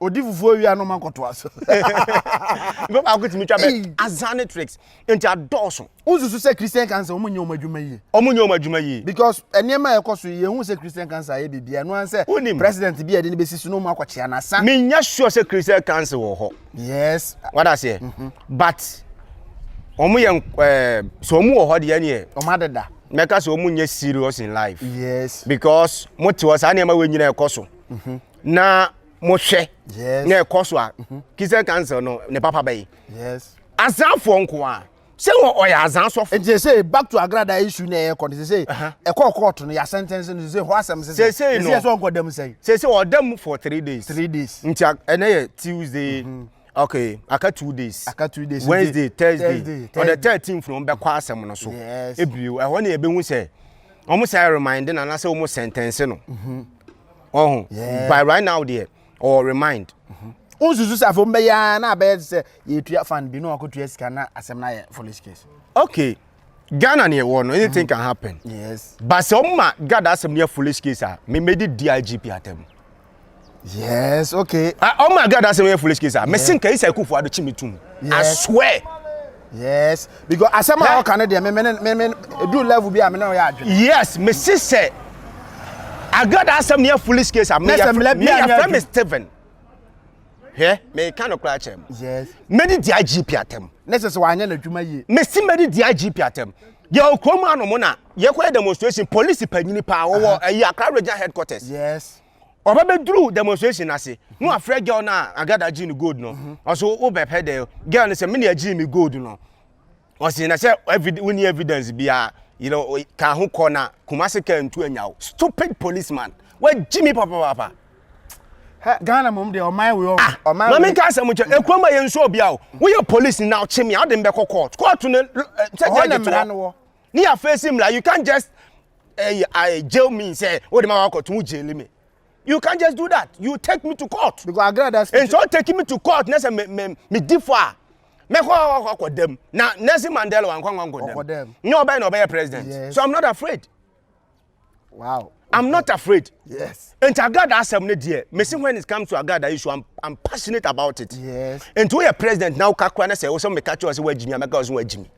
S1: odi
S2: fufuo wia no ma kɔtoa so
S1: nipa baako tumi twa bɛyɛ azane tricks Enti adɔɔso. Wo nsusu sɛ Christian
S2: cancer ɔmo nyɛ ɔmo adwuma yie? Ɔmo nyɛ ɔmo adwuma yie. Because ɛneɛma a ɛkɔ
S1: so yi yɛhu
S2: sɛ Christian cancer ayɛ biribiaa ɛno ara sɛ Wonim. president bi a yɛde no bɛsi so na ɔmo akɔ kyea no asa. Me nyɛ sure sɛ Christian
S1: cancer wɔ hɔ. Yes. Wada
S2: aseɛ?
S1: But ɔmo yɛ ɛɛ sɛ ɔmo wɔ hɔ deɛ ɛneɛ. Ɔmo adeda. Mɛka
S2: sɛ ɔmo nyɛ
S1: serious in life. Yes. Because
S2: mo te
S1: hɔ saa nneɛma wɔ nyina ɛkɔ so. Na mo hwɛ. Yes. Na ɛkɔ so a. Christian cancer no ne papa bɛyi. Yes. Azan
S2: foɔ nko
S1: a. Sɛ wɔ ɔyɛ azan sɔfo. Nti sesei back to agrada
S2: issue na ɛkɔ no sesei ɛkɔɔ court no yɛ asɛntɛnse no sesei hɔ asɛm sesei sesei no sesei sɛ ɔnkɔ da mu
S1: sɛn
S2: sesei ɔda mu for
S1: three days three days nti ɛnɛ yɛ Tuesday mm -hmm. okay aka two days aka two days Wednesday Thursday on the thirteenth no bɛkɔ asɛm no so yes ebio ɛhɔ ne yɛbɛhu sɛ wɔn sɛ remind na anasɛ wɔn sɛntɛnse no ɔho mm-hmm. oh, yes. by right now deɛ. or remind wonsusu sɛ
S2: afei wɔbɛyɛ ara na abɛyɛ te sɛ yɛtua fan bi na wakɔtua sika na asɛm no ayɛ foolish case okay
S1: ghana ne ɛwɔ no anything can happen yes ba sɛ
S2: ɔma
S1: gad asɛm no yɛ foolish case a memɛdi digp atam
S2: yes okay ɔma gad asɛm
S1: yɛ foolish case a mese nka isa kufoɔ ado kyi me tom i swear yes
S2: because asɛm a ɔka no deɛ meme ne meme ɛduru level bi a me ne ɔyɛ adwene yes mese sɛ
S1: agada asɛm ne yɛ foolish case a meyɛfrɛ me steven hwɛ meka no koraa kyerɛ m mɛde di
S2: agp
S1: atɛm ne sɛ sɛ wanyɛ n'adwuma
S2: yie mese mɛde di agp
S1: atɛm yɛwɔ kurom anom na yɛkɔyɛ demonstration police panyini paa wɔwɔ ɛyi akra regional headquarters yes
S2: ɔba bɛduru
S1: demonstration no ase na wafrɛ girl no a agada gyee no gold no mhm. ɔso wobɛpɛ dɛ girl no sɛ mene agyee me gold no ɔse na sɛ wonni evidence biaa yɛrɛ ka ho kɔ na kumase ka ntu anya wo stupid policeman wagyi me papapaapa
S2: ghana mom deɛ ɔman wei ah, ɔman wei. maame nka asɛm
S1: nkyɛn mm. ekurom a yɛn nso obi a o woyɛ polisi na ɔkye mi a ɔde mbɛkɔ court court no eh, sɛ jɛ ɛdi to hɔ. Ne ya face him like you can't just uh, uh, jail me and say, oh, the man got to jail me. You can't just do that. You take me to court. Because I agree that. And so
S2: taking me to
S1: court, next me me me differ. Me ko ko ko dem. Na Nelson Mandela wan ko ko dem. No, obey no obey president. Yes. So I'm not afraid.
S2: Wow. I'm not
S1: afraid. Yes. And Agada
S2: asem ne
S1: dear. Me see when it comes to Agada issue, I'm, I'm passionate about it. Yes. And to your
S2: president
S1: now, Kakra, and say, also oh, me catch you as well, Jimmy, I'm a girl, so Jimmy.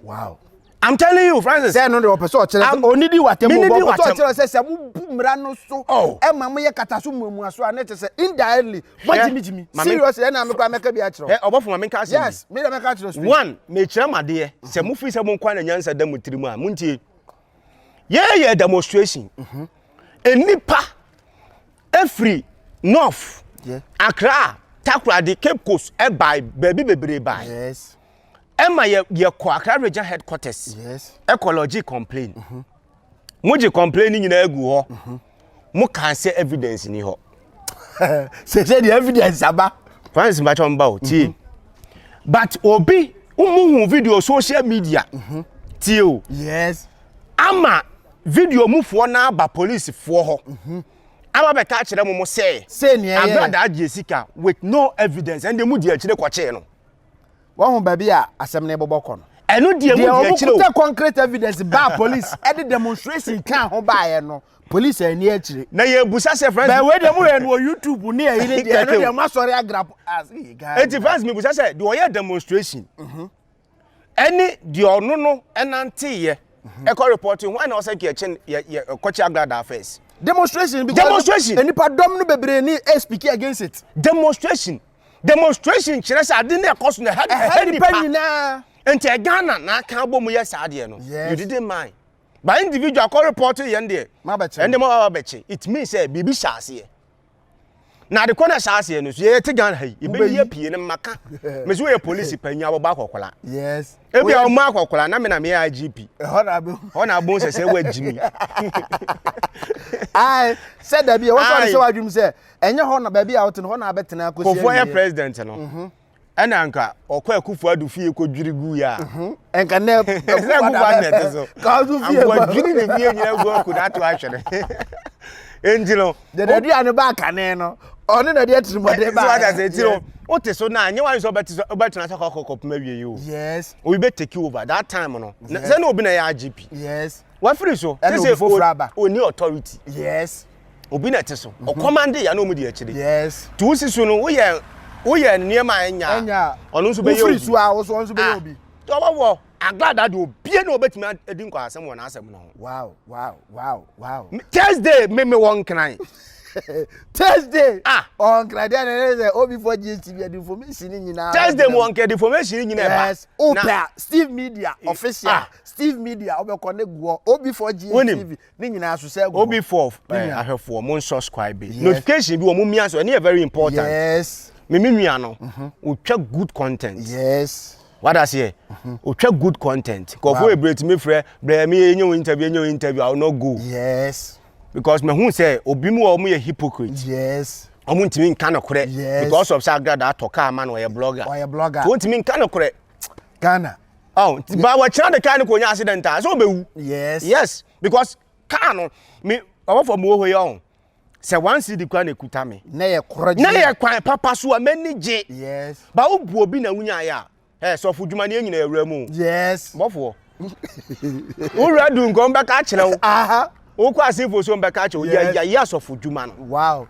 S1: Wow.
S2: I'm telling you,
S1: Francis. Sɛ ɛno de ɔpɛ sɛ ɔkyerɛ sɛ
S2: ɔne di watam mu bɔ ɔpɛ sɛ ɔkyerɛ sɛ sɛ mo bu mmara no so ɛma mo yɛ kata so mmuamua so a ne te sɛ indirectly mo gyimi gyimi serious ɛna mi kura mɛka bi akyerɛ. Ɛ ɔbɔfo ma mi nka ase bi. Yes
S1: mi na mɛka akyerɛ so.
S2: One mekyerɛ mu adeɛ
S1: sɛ mo fi sɛ mo nkwa na nyansa da mo tiri mu a mo ntie. yɛyɛ demonstration nnipa ɛfiri north yeah. akra takoradi cape coast ɛbae baabi bebree bae yes.
S2: ɛma yɛ
S1: yɛkɔ akra region headquarters yes. ɛkɔ lɔgye
S2: complain
S1: mm -hmm. mogye complain ni nyinaa gu hɔ mm -hmm. mo kan sɛ evidence ni hɔ sɛ
S2: sɛ deɛ evidence aba francis mbakye ɔmba
S1: o tie mhm. but obi mo hu video social media mhm. tie o yes
S2: ama
S1: video mu foɔ na aba police foɔ hɔ mhm. ama bɛka akyerɛ mo mo sɛ agradaa
S2: gye sika
S1: with no evidence ɛnde mu di akyire kɔkyee no Wahu
S2: baabi a asɛm no rebobɔ kɔ no. Ɛno deɛ mu deɛ akyire
S1: o. Deɛ wɔkuta concrete evidence baa
S2: police ɛde demonstration kaa ho baeɛ no police ɛni akyire. Na yɛ busa sɛ France.
S1: Bɛɛ wei deɛ mo yɛ no wɔ
S2: YouTube ne ɛyi ne deɛ ɛno deɛ mo asɔre agrap as yi gaa. Eti France mi busa sɛ
S1: deɛ ɔyɛ demonstration. Mhm. Ɛne deɛ ɔno no ɛnante yɛ. Mhm. Ɛkɔ report ho ɛna ɔsɛ kɛ ɛkyɛn yɛ yɛ ɛkɔkyɛ agradaa first. Demonstration because
S2: demonstration. Nipa dɔm
S1: no bebree
S2: ni ɛspiki against it. Demonstration.
S1: Demonstration kyerɛ sɛ ade no ɛkɔ so na ɛha ɛha nipa nyinaa.
S2: Nti ɛ Ghana
S1: na aka abɔ mu yɛ saa deɛ no. Yes. You didn't mind. But individual kɔ report yɛn deɛ. Ma bɛkye. Ɛnde ma ba
S2: bɛkye. It
S1: means sɛ biribi hyɛ aseɛ. Na ade kɔ na ɛhyɛ aseɛ no so yɛ te Ghana ha yi. Ebe yi apue no maka. Mesi wɔyɛ polisi panyin abɔbɔ akɔkola. Yes. Ebi a
S2: wɔn akɔkola
S1: na me na me yɛ IGP. Ɛhɔ na abɛhu. Ɛhɔ na abɛhu sɛ sɛ wɔagyimi.
S2: Ayi sɛ dabi a wɔsɔ ne sɛ wɔadwim sɛ Ɛnyɛ hɔ na baabi a wote no hɔ na abɛtena akosi awie. Kofo yɛ president no.
S1: Mhm. Ɛna anka ɔkɔ Akufo Addo fie kɔ dwiri gu yɛ a. Mhm. Ɛnka nɛ
S2: Akufo Addo na ɛte
S1: so. Kaosu fie kɔ. Anka
S2: dwiri ne fie nyina
S1: gu ɔko na ato ahwɛ ne. Enti no. Dede adua
S2: ne ba kane no. Ɔne na de atirimɔden ba. So ada sɛ ti no. O
S1: te so na nye wa so ɔbɛte so ɔbɛtena sɛ kɔkɔ kɔpem awie yi o. Yes. Obi bɛ take
S2: over
S1: that time no. Sɛ na obi na yɛ AGP. Yes. Wafiri
S2: so. Ɛna
S1: obi foforo aba.
S2: Oni authority.
S1: Yes.
S2: obi na ɛte so
S1: mhm. ɔkɔmande yɛ na ɔmu di akyire nti wo si so
S2: no woyɛ
S1: woyɛ nneɛma a ɛnya ɔno nso bɛyɛ obi so a wo so ɔno nso bɛyɛ ah,
S2: obi nti ɔbɛwɔ
S1: aglada de obie na ɔbɛtumi adi nkwaasɛm wɔ n'asɛm no ho wow wow wow
S2: wow thursday
S1: me me wɔ nkran
S2: thursday ah ɔnkran deɛ na ɛyɛ sɛ obi fɔ gist bi ɛdi information nyinaa thursday mu ɔnkɛ ɛdi
S1: information nyinaa ɛba yes opɛ
S2: steve media official ah. steve media ɔbɛkɔ ne guɔ obi fɔ gist tv Ne nyinaa so sɛ ɛgu. Obi four ɛɛ
S1: ahwɛfoɔ mo nsubscribe. Notification bi wɔ mo mia so ɛne yɛ very important. Yes. Me me
S2: nua no.
S1: Mhm. Otwa good content. Yes.
S2: Wada seɛ.
S1: Mhm. Otwa good content. Nkɔfo yɛ bere tumi frɛ brɛ mi yɛ nye wo interview nye wo interview I will not go. Yes.
S2: Because me hu
S1: sɛ obi mu wɔ ɔmo yɛ hypocrite. Yes. Ɔmo
S2: ntumi nka no
S1: korɛ. Yes. Because of sɛ agrada atɔ kaa ma no ɔyɛ blogger. Ɔyɛ blogger. Ɔntumi nka no korɛ. Ghana.
S2: Oh, ti ba
S1: wa chana de car no ko nya accident a. So be wu. Yes. Yes, because car no me owo for mo ho ye on. Se one city kwa na kuta me. Na ye koro je. Na ye
S2: kwan papa
S1: so a mani je. Yes. Ba wo bu
S2: obi na
S1: wunya ya. Eh, so fo dwuma ne nyina awura mu. Yes. Bofo. Wo wura du nko be ka kire wo. Aha. wokɔ asefo
S2: so
S1: mbɛka akyɛ yes. yɛyɛ asɔfo dwuma no wow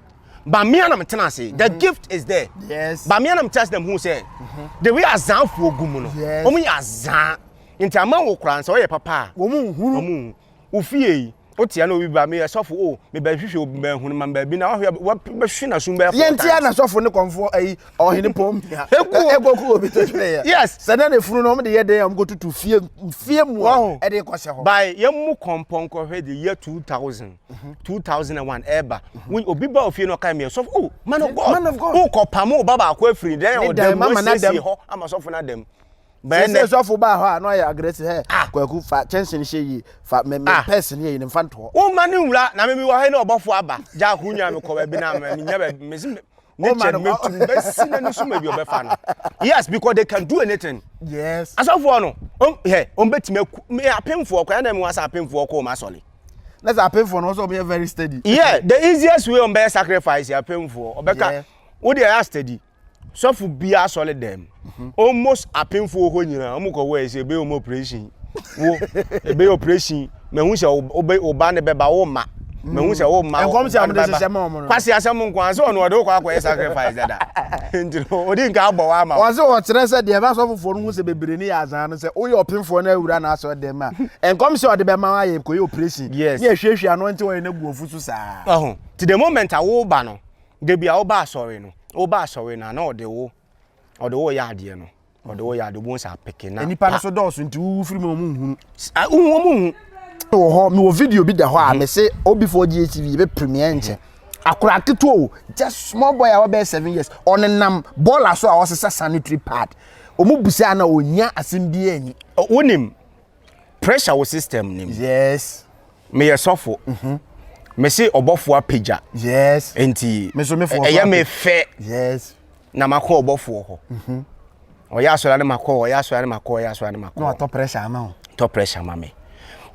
S2: bamea na
S1: metena ase mm -hmm. the mhm. gift is there yes. bamea na metena
S2: ase na mehu
S1: sɛ mm -hmm. the way azanfoɔ gu mu no yes. ɔmo yɛ azan nti ama wo koraa sɛ ɔyɛ papa a ɔmo nhuru ɔmo
S2: ofie
S1: yi wotia na obi ba meyɛ sɔfo o mebɛhwehwɛ obi bɛhunu ma baabi na wahwɛ wabɛhwe na sum bɛyɛ fɔta yɛntia na sɔfo ne
S2: kɔmfoɔ ayi ɔhene pɔn mia ɛkɔ kɔ obi to twere yɛ yes sɛ na ne funu no ɔmo
S1: de yɛ
S2: dɛn ɔmo kɔ tutu fie fie mu a ɛde kɔ hyɛ hɔ by yɛn mu kɔmpɔn
S1: kɔhwɛ de yɛ two thousand mhm. two thousand and one ɛɛba mhm. obi ba ofie na ɔka mi ɛsɔfo o oh, man of god man of god o oh, kɔ pam o ba baako efiri dɛn ɔdɛm mo esiesie hɔ ama sɔfo na dɛm sɛ sɔfo
S2: baa hɔ a na ɔyɛ agresi hɛ ah. kwaku fa kyɛnse no hyɛ yie fa mɛ mɛ ah. pɛs no yɛ yie nfa ntɔ. wo ma ne nwura na mɛ
S1: mi wɔ hɛ ne ɔbɔfo aba gya ko nya mi kɔ baabi na mɛ mi nya baabi mɛ si mɛ. ne kyɛ no mɛtu no bɛsi n'ani so ma bi ɔbɛfa no yes because they can do anything yes asɔfoɔ
S2: no
S1: hɛ wɔn bɛtumi aku me apemfoɔ kwan na mi wa sɛ apemfoɔ kɔ wɔn asɔre na sɛ apemfoɔ
S2: no wɔn sɛ wɔn yɛ very steady yeah the easiest
S1: way wɔn bɛyɛ sacrifice apemfoɔ ɔbɛka wo deɛ yɛ steady sɔfo bi asɔre dɛm almost apemfo wɔ hɔ nyinaa wɔn kɔ wɔ ɛsɛ ebe wɔn operation wo ebe operation mɛhu sɛ ɔbɛ ɔba ne bɛba wo ma mɛhu sɛ wo ma nkɔm sɛ wɔn de hyehyɛ ma
S2: wɔn no kwasi asɛm nko ara sɛ wɔn
S1: wɔde kɔ akɔ yɛ sacrifice dada nti no odi nka abɔ wa ama wɔn. wɔsi wɔkyerɛ sɛ deɛ
S2: ɛbɛsɔ foforɔ no ho sɛ bebree ne yɛ azan no sɛ woyɛ ɔpemfoɔ na awura na asɔ dɛm a nkɔm sɛ ɔde bɛma ayɛ kɔ yɛ operation yes ne ɛhwɛhwɛ ano nti wɔyɛ n'agu ofu so saa. ti the moment
S1: a wo ba no debi a wo ba asɔre no wo ba asɔre no a na ɔde wo ɔde wo yɛ adeɛ no ɔde wo yɛ adeɛ obi sɛ apeke na nipa no so dɔɔso nti wuwu
S2: firi mu ɔmo nhunu wohu ɔmo hu
S1: wɔ hɔ
S2: mewɔ video bi da hɔ a mese obi fo ɔgye tv yɛbɛ premier nkyɛ akora ketewa o just small boy a wɔbɛyɛ seven years ɔnenam bɔɔla so a ɔsesa sanitary pad ɔmo busa na ɔnya asɛm bi anyi wonim
S1: pressure wo system nim yes
S2: meyɛ sɔfo
S1: mhm. mese ɔbɔfo apagya yes nti ɛyɛ me
S2: fɛ
S1: yes
S2: na makɔ
S1: ɔbɔfoɔ hɔ mhm. ɔyɛ asɔre ne makɔ ɔyɛ asɔre ne makɔ ɔyɛ
S2: asɔre
S1: ne makɔ na ɔtɔ pressure ama wo tɔ pressure ama me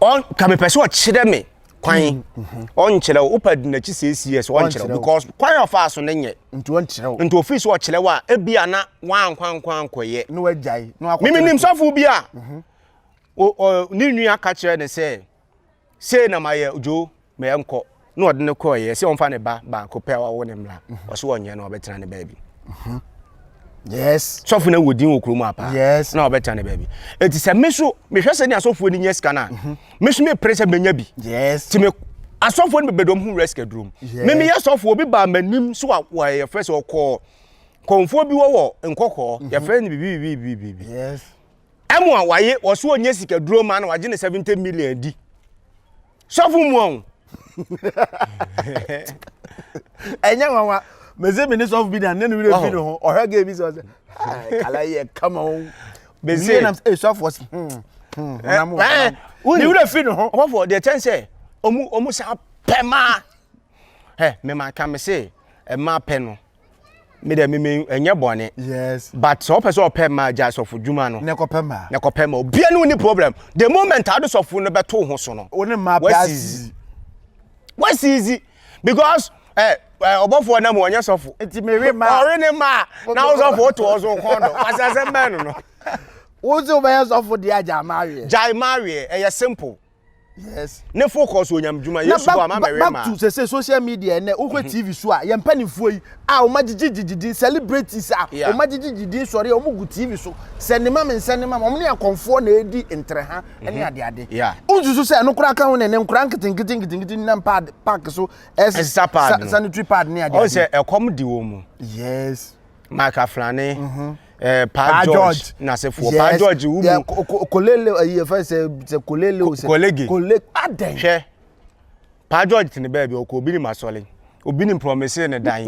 S1: ɔn ka mepɛ sɛ ɔkyerɛ me kwan hmm, mhm. ɔnkyerɛ wo wopɛ de n'akyi sɛ cs ɔnkyerɛ wo because kwan a ɔfaa so no nyɛ nti ɔnkyerɛ wo nti
S2: ofiri so ɔkyerɛ wo a
S1: ebi a na wankwankwa ankɔyɛ na wagyae na wakɔ
S2: mimi nim sɔfo bi a
S1: mhm. ne nua ka kyerɛ ne sɛ sei na mayɛ dwo mɛyɛ nkɔ na ɔde ne kɔɔyɛ sɛ ɔmfa ne ba baako pɛ ɔwo ne mmra mhm. ɔso ɔnyɛ na ɔbɛtena ne baabi yes
S2: sɔfo na wɔ din wɔ kurom apa
S1: yes na ɔbɛtena ne baabi eti sɛ me so mehwɛ sɛ ne asɔfoɔ ni nyɛ sika no a Me so mepere sɛ menya bi. Yes. Ti me asɔfoɔ no bɛbɛdɔm ho risk adurom. Yes. Me meyɛ sɔfoɔ bi baa m'anim so a wɔyɛfrɛ sɛ ɔkɔɔ kɔnfoɔ bi wɔ wɔ nkɔkɔɔ mhm. yɛfrɛ no bibibibibibi. Yes.
S2: Ɛmo a waye
S1: wɔso ɔnyɛ sika duro ma na wagye ne 70 million di. Sɔfo mu ɔn.
S2: ɛnyɛ nwanwa mese me ne sɔfo bi na ne ne werɛ fi ne ho ɔhwɛ gɛ bi sɛ ɔsɛ kala yɛ kama o bɛsie nam sɛ
S1: sɔfoɔ se
S2: ne werɛ fi ne ho ɔbɔfoɔ deɛ kyɛn sɛ
S1: ɔmu ɔmu sa pɛ maa ɛ mema ka me se ɛma pɛ no me dɛ meme ɛnyɛ bɔne yes but sɛ
S2: ɔpɛ sɛ ɔpɛ
S1: ma gya sɔfo dwuma no na ɛkɔpɛ ma na ɛkɔpɛ
S2: ma obia ne woni
S1: problem the moment ade sɔfo no bɛto ho so no wone ma wasizi wasizi because eh, eh ɔbɔfoɔ nam ɔnyɛ sɔfo nti mewe ma ɔre
S2: ne ma na
S1: wo sɔfo woto ɔ so kɔn do wasasɛm bɛn no no wo sɛ
S2: wobɛyɛ sɔfo deɛ agya ma aweɛ gyae ma aweɛ ɛyɛ simple
S1: Yes.
S2: Ne fo kɔ so onyam
S1: dwuma. Yesu bɔ ama mɛwɛ ma. Back to sese social
S2: media ɛnɛ wokɔ mhm. TV so a yɛn mpanimfoɔ yi a wɔn agyegye gyegye din celebrities a wɔn agyegye gyegye din sɔre a wɔn gu TV so sɛ ne ma me nsɛ ne ma wɔn ne akɔnfoɔ na edi ntereha ɛne mhm. adeade. Nsusu sɛ ɛno koraa ka ho ne ne nkora nketenkete nketenkete nam paad paaki so ɛsesa paad no sanitary paad ne adeade. Ɔsɛ ɛkɔm di
S1: wɔn mu. Yes.
S2: Mark Aflane,
S1: mm -hmm. eh, pa, pa George, George. n'asefoɔ yes. pa George wo mu kolele ayi yɛfɛ
S2: sɛ sɛ kolele o sɛ kolege kolege adɛn hwɛ
S1: pa George tene baabi ɔkɔ obi ne ma sɔle obi ne promise ne dan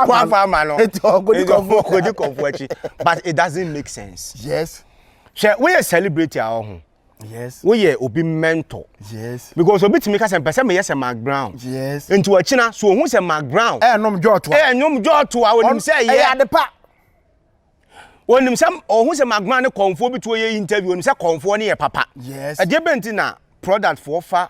S2: wafa ama no
S1: kɔdi kɔfoɔ akyi but it doesn't make sense yes
S2: hwɛ woyɛ
S1: celebrity a ɔho Yes. Woyɛ
S2: obi
S1: mentor. Yes. Because obi
S2: tumi ka sɛ mpɛ
S1: sɛ meyɛ sɛ Mark Brown. Yes. Nti wakyina
S2: so ohun
S1: sɛ Mark Brown. Ɛyɛ nom jɔɔto a. Ɛyɛ
S2: nom jɔɔto a onim
S1: sɛ ɛyɛ. Ɛyɛ adepa. Onim sɛ ohun sɛ Mark Brown ne kɔnfoɔ bi to yɛ interview onim sɛ kɔnfoɔ ne yɛ papa. Yes. Ɛdeɛ bɛ nti
S2: na
S1: product foɔ fa.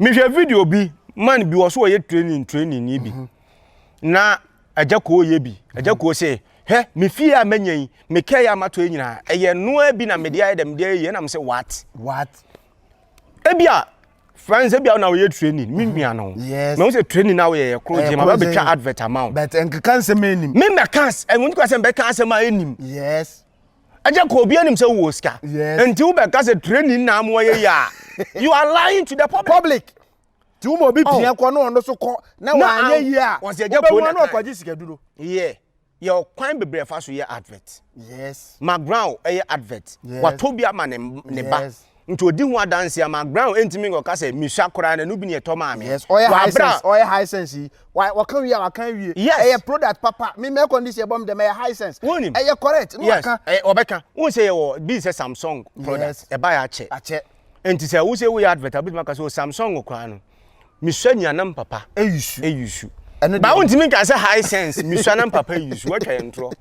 S2: mehwɛ video
S1: bi man bi wɔ so wɔyɛ training training ni bi mhm. na agya koo yɛ bi agya mhm. koo sɛ hɛ me fie a mɛnya yi me kɛ yɛ amatɔ yɛ nyinaa ɛyɛ noa bi na mede ayɛ dɛ mede ayɛ yɛ nam sɛ what what ebi a friends ebi a na wɔyɛ training me mhm. nua no yes mɛ n sɛ training na
S2: wɔyɛ yɛ
S1: koro gyina ma bɛbɛtwa advert ama wo bɛtɛ nkeka nsɛm
S2: ɛnim me mɛ kan ɛmu
S1: nkeka sɛ mbɛka asɛm a ɛnim yes
S2: ɛgya kɔ obi
S1: anim sɛ wowɔ sika nti wobɛka sɛ training na amoa yɛ yɛ you are lying to the public. public. ti wo ma obi oh. pia kɔ na ɔno so kɔ na wanyɛ yie a wobɛwua na ɔkɔgye
S2: sikaduro yɛ yɛ
S1: ɔkwan bebree fa so yɛ advert yes
S2: maground ɛyɛ
S1: advert watɔ bi ama ne ba Nti ɔdi ho adanseɛ ama Brown ntumi nkɔka sɛ mesua koraa na ɛno bi na ɛtɔ maa me. Yes, ɔyɛ high sense, ɔyɛ
S2: high sense yi. Wa, wɔka wie a wɔka awie. Yes. Ɛyɛ product papa. Me mɛ kɔn de si ɛbɔ me dɛm ɛyɛ high sense. Wonim. Ɛyɛ correct. No yes. Aka. Ɛyɛ ɔbɛka. Wohu sɛ yɛwɔ
S1: bi sɛ Samsung product. Yes. Ɛba yɛ akyɛ. Akyɛ. Nti sɛ wo sɛ woyɛ advert a wobɛtumi aka sɛ o Samsung koraa no. Mesua nea na me papa. Eyusu. Eyusu. Ɛno deɛ. Ba wontumi nka sɛ high sense mesua na me papa eyusu watwa yɛn torɔ.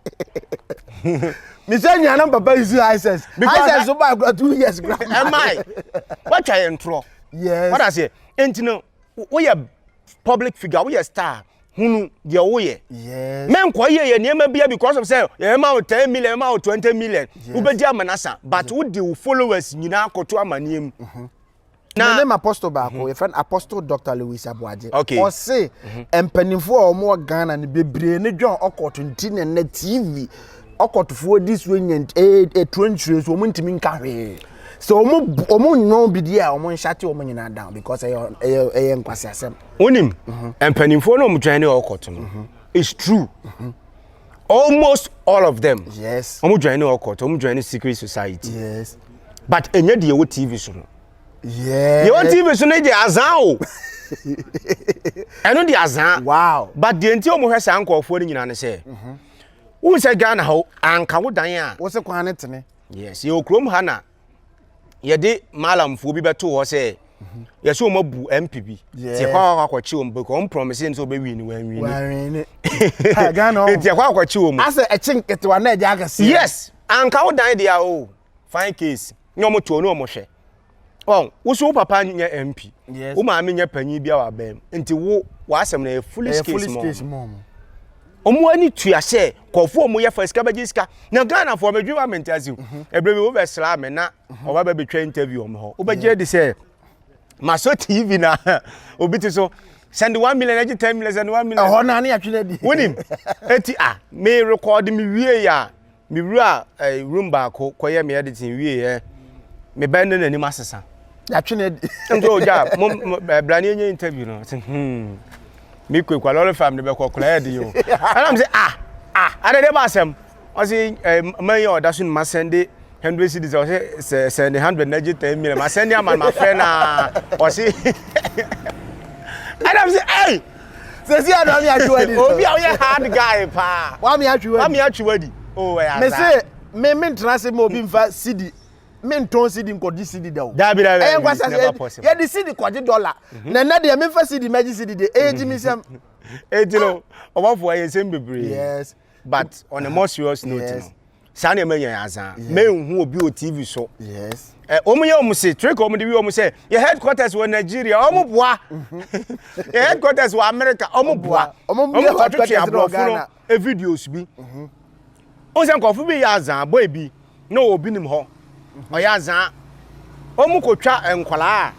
S1: Mesua
S2: nea na me papa eyusu high sense. High sense so baa kura two years kura. Ɛmae
S1: watwa yɛn torɔ. Yes. Wada
S2: aseɛ nti
S1: no woyɛ public figure woyɛ star hunu deɛ woyɛ. Yes. Menkɔ yɛ
S2: yɛ nneɛma
S1: bia because of sɛ yɛma wo ten million yɛma wo twenty million wobɛdi amanasa but wode wo followers nyinaa kɔto amaneɛ mu. Mm-hmm. Na
S2: Mene m'apostle baako, mhm. yɛfrɛ no Apostle Dr. Louis Aboagye. Okay. Ɔse, mhm. mpanimfoɔ a wɔwɔ Ghana no bebree ne dwan ɔkɔto nti na nnɛ TV ɔkɔtofoɔ di so nya ɛtuo eh, eh, nkyerɛ so wɔn ntumi nka hwee. Sɛ wɔn wɔn nnwom bi di a wɔn nhyɛ te wɔn nyinaa down because ɛyɛ ɛyɛ ɛyɛ nkwasiasɛm. Wonim mhm.
S1: mpanimfoɔ na wɔn dwan ne ɔkɔto no. It's true. almost all of them yes wɔn join ne ɔkɔt wɔn join ne secret society yes but ɛnyɛ deɛ ɛwɔ tv so no yes
S2: deɛ ɛwɔ tv so
S1: no deɛ azan o ɛno deɛ azan wow but deɛ nti
S2: wɔn hwɛ saa
S1: nkɔɔfoɔ no nyinaa no sɛ mhm. wohu sɛ ghana hɔ anka wo dan a wo se kwan ne tene
S2: yes yɛwɔ kurom
S1: ha na yɛde malamfoɔ bi bɛto hɔ sɛ yɛsɛ wɔn abu mp bi ti ɛkɔ akɔ akɔkye wɔn bɛkɔ wɔn promise sɛ wɔbɛ win wɔn win wɔn
S2: win ti ɛkɔ akɔkye wɔn. asɛ
S1: ɛkye nketewa
S2: na ɛdi akɛse. yes anka wo
S1: dan deɛ o fine case ne wɔn to ne wɔn hwɛ wɔn woso wo papa nyɛ mp wo maame nyɛ panyin bi a wabɛn nti wo w'asɛm na yɛ foolish case mɔ. Ɔmo ani tua sɛ nkurɔfoɔ ɔmo yɛ fa sika bɛgye sika na Ghanafoɔ medwene ma mente ase ɛberɛ bi wobɛsraa me na ɔba bɛ bɛtwa interview ɔmo hɔ wobɛgye de sɛ masɔ TV na obi te so sɛnde one million ɛgye ten million sɛnde one million ɛhɔ na ne atwe no adi
S2: wonim eti
S1: a me record me wie a Me wura eh, room baako kɔyɛ me editing wie ɛ eh, me bɛn ne n'anim asesa. Yàtwe ne di.
S2: Nti o ja mo
S1: eh, brani enye interview no ti hmm me kwe kwa lorry farm ne bɛ kɔ kura yɛ di o. Ɛna mi sɛ ah ah ada de ba asɛm ɔsi eh, man yɛ ɔda so ne ma sɛnde hundred cedis ɔsi sɛ sɛnde hundred na gye ten million ma sɛnde ama ma fɛ na ɔsi ɛna mi sɛ ɛy. Sesi a na
S2: mi atwi wadi. Obi a woyɛ hard
S1: guy paa. Wa mi atwi wadi. Wa mi atwi
S2: wadi.
S1: O wɛ ya za. Mese me me
S2: ntena se ma obi nfa sidi. Me ntɔn sidi nkɔgye sidi da o. Dabi dabi. Ɛyɛ nkwa sase.
S1: Yɛ
S2: di sidi kɔgye dɔla. Na nɛ deɛ me nfa sidi mɛgye sidi deɛ. Ɛyɛ gyi mi sɛm. Eti no,
S1: ɔbɔfo ɛyɛ nsɛm bebree. Yes. But
S2: on a
S1: more serious note no. saa nneɛma nyɛ adza menhu obi wɔ tv so yes eh, wɔn
S2: yɛ wɔn se
S1: trick wɔn de wi wɔn sɛ yɛ headquarters wɔ nigeria wɔn boa yɛ headquarters wɔ america wɔn boa wɔn kɔ twetwe
S2: aborɔfo no e videos bi
S1: mhm. wɔn sɛ nkɔfo bi yɛ adza boy bi na obi nim hɔ mhm. ɔyɛ adza wɔn kɔ twa nkwadaa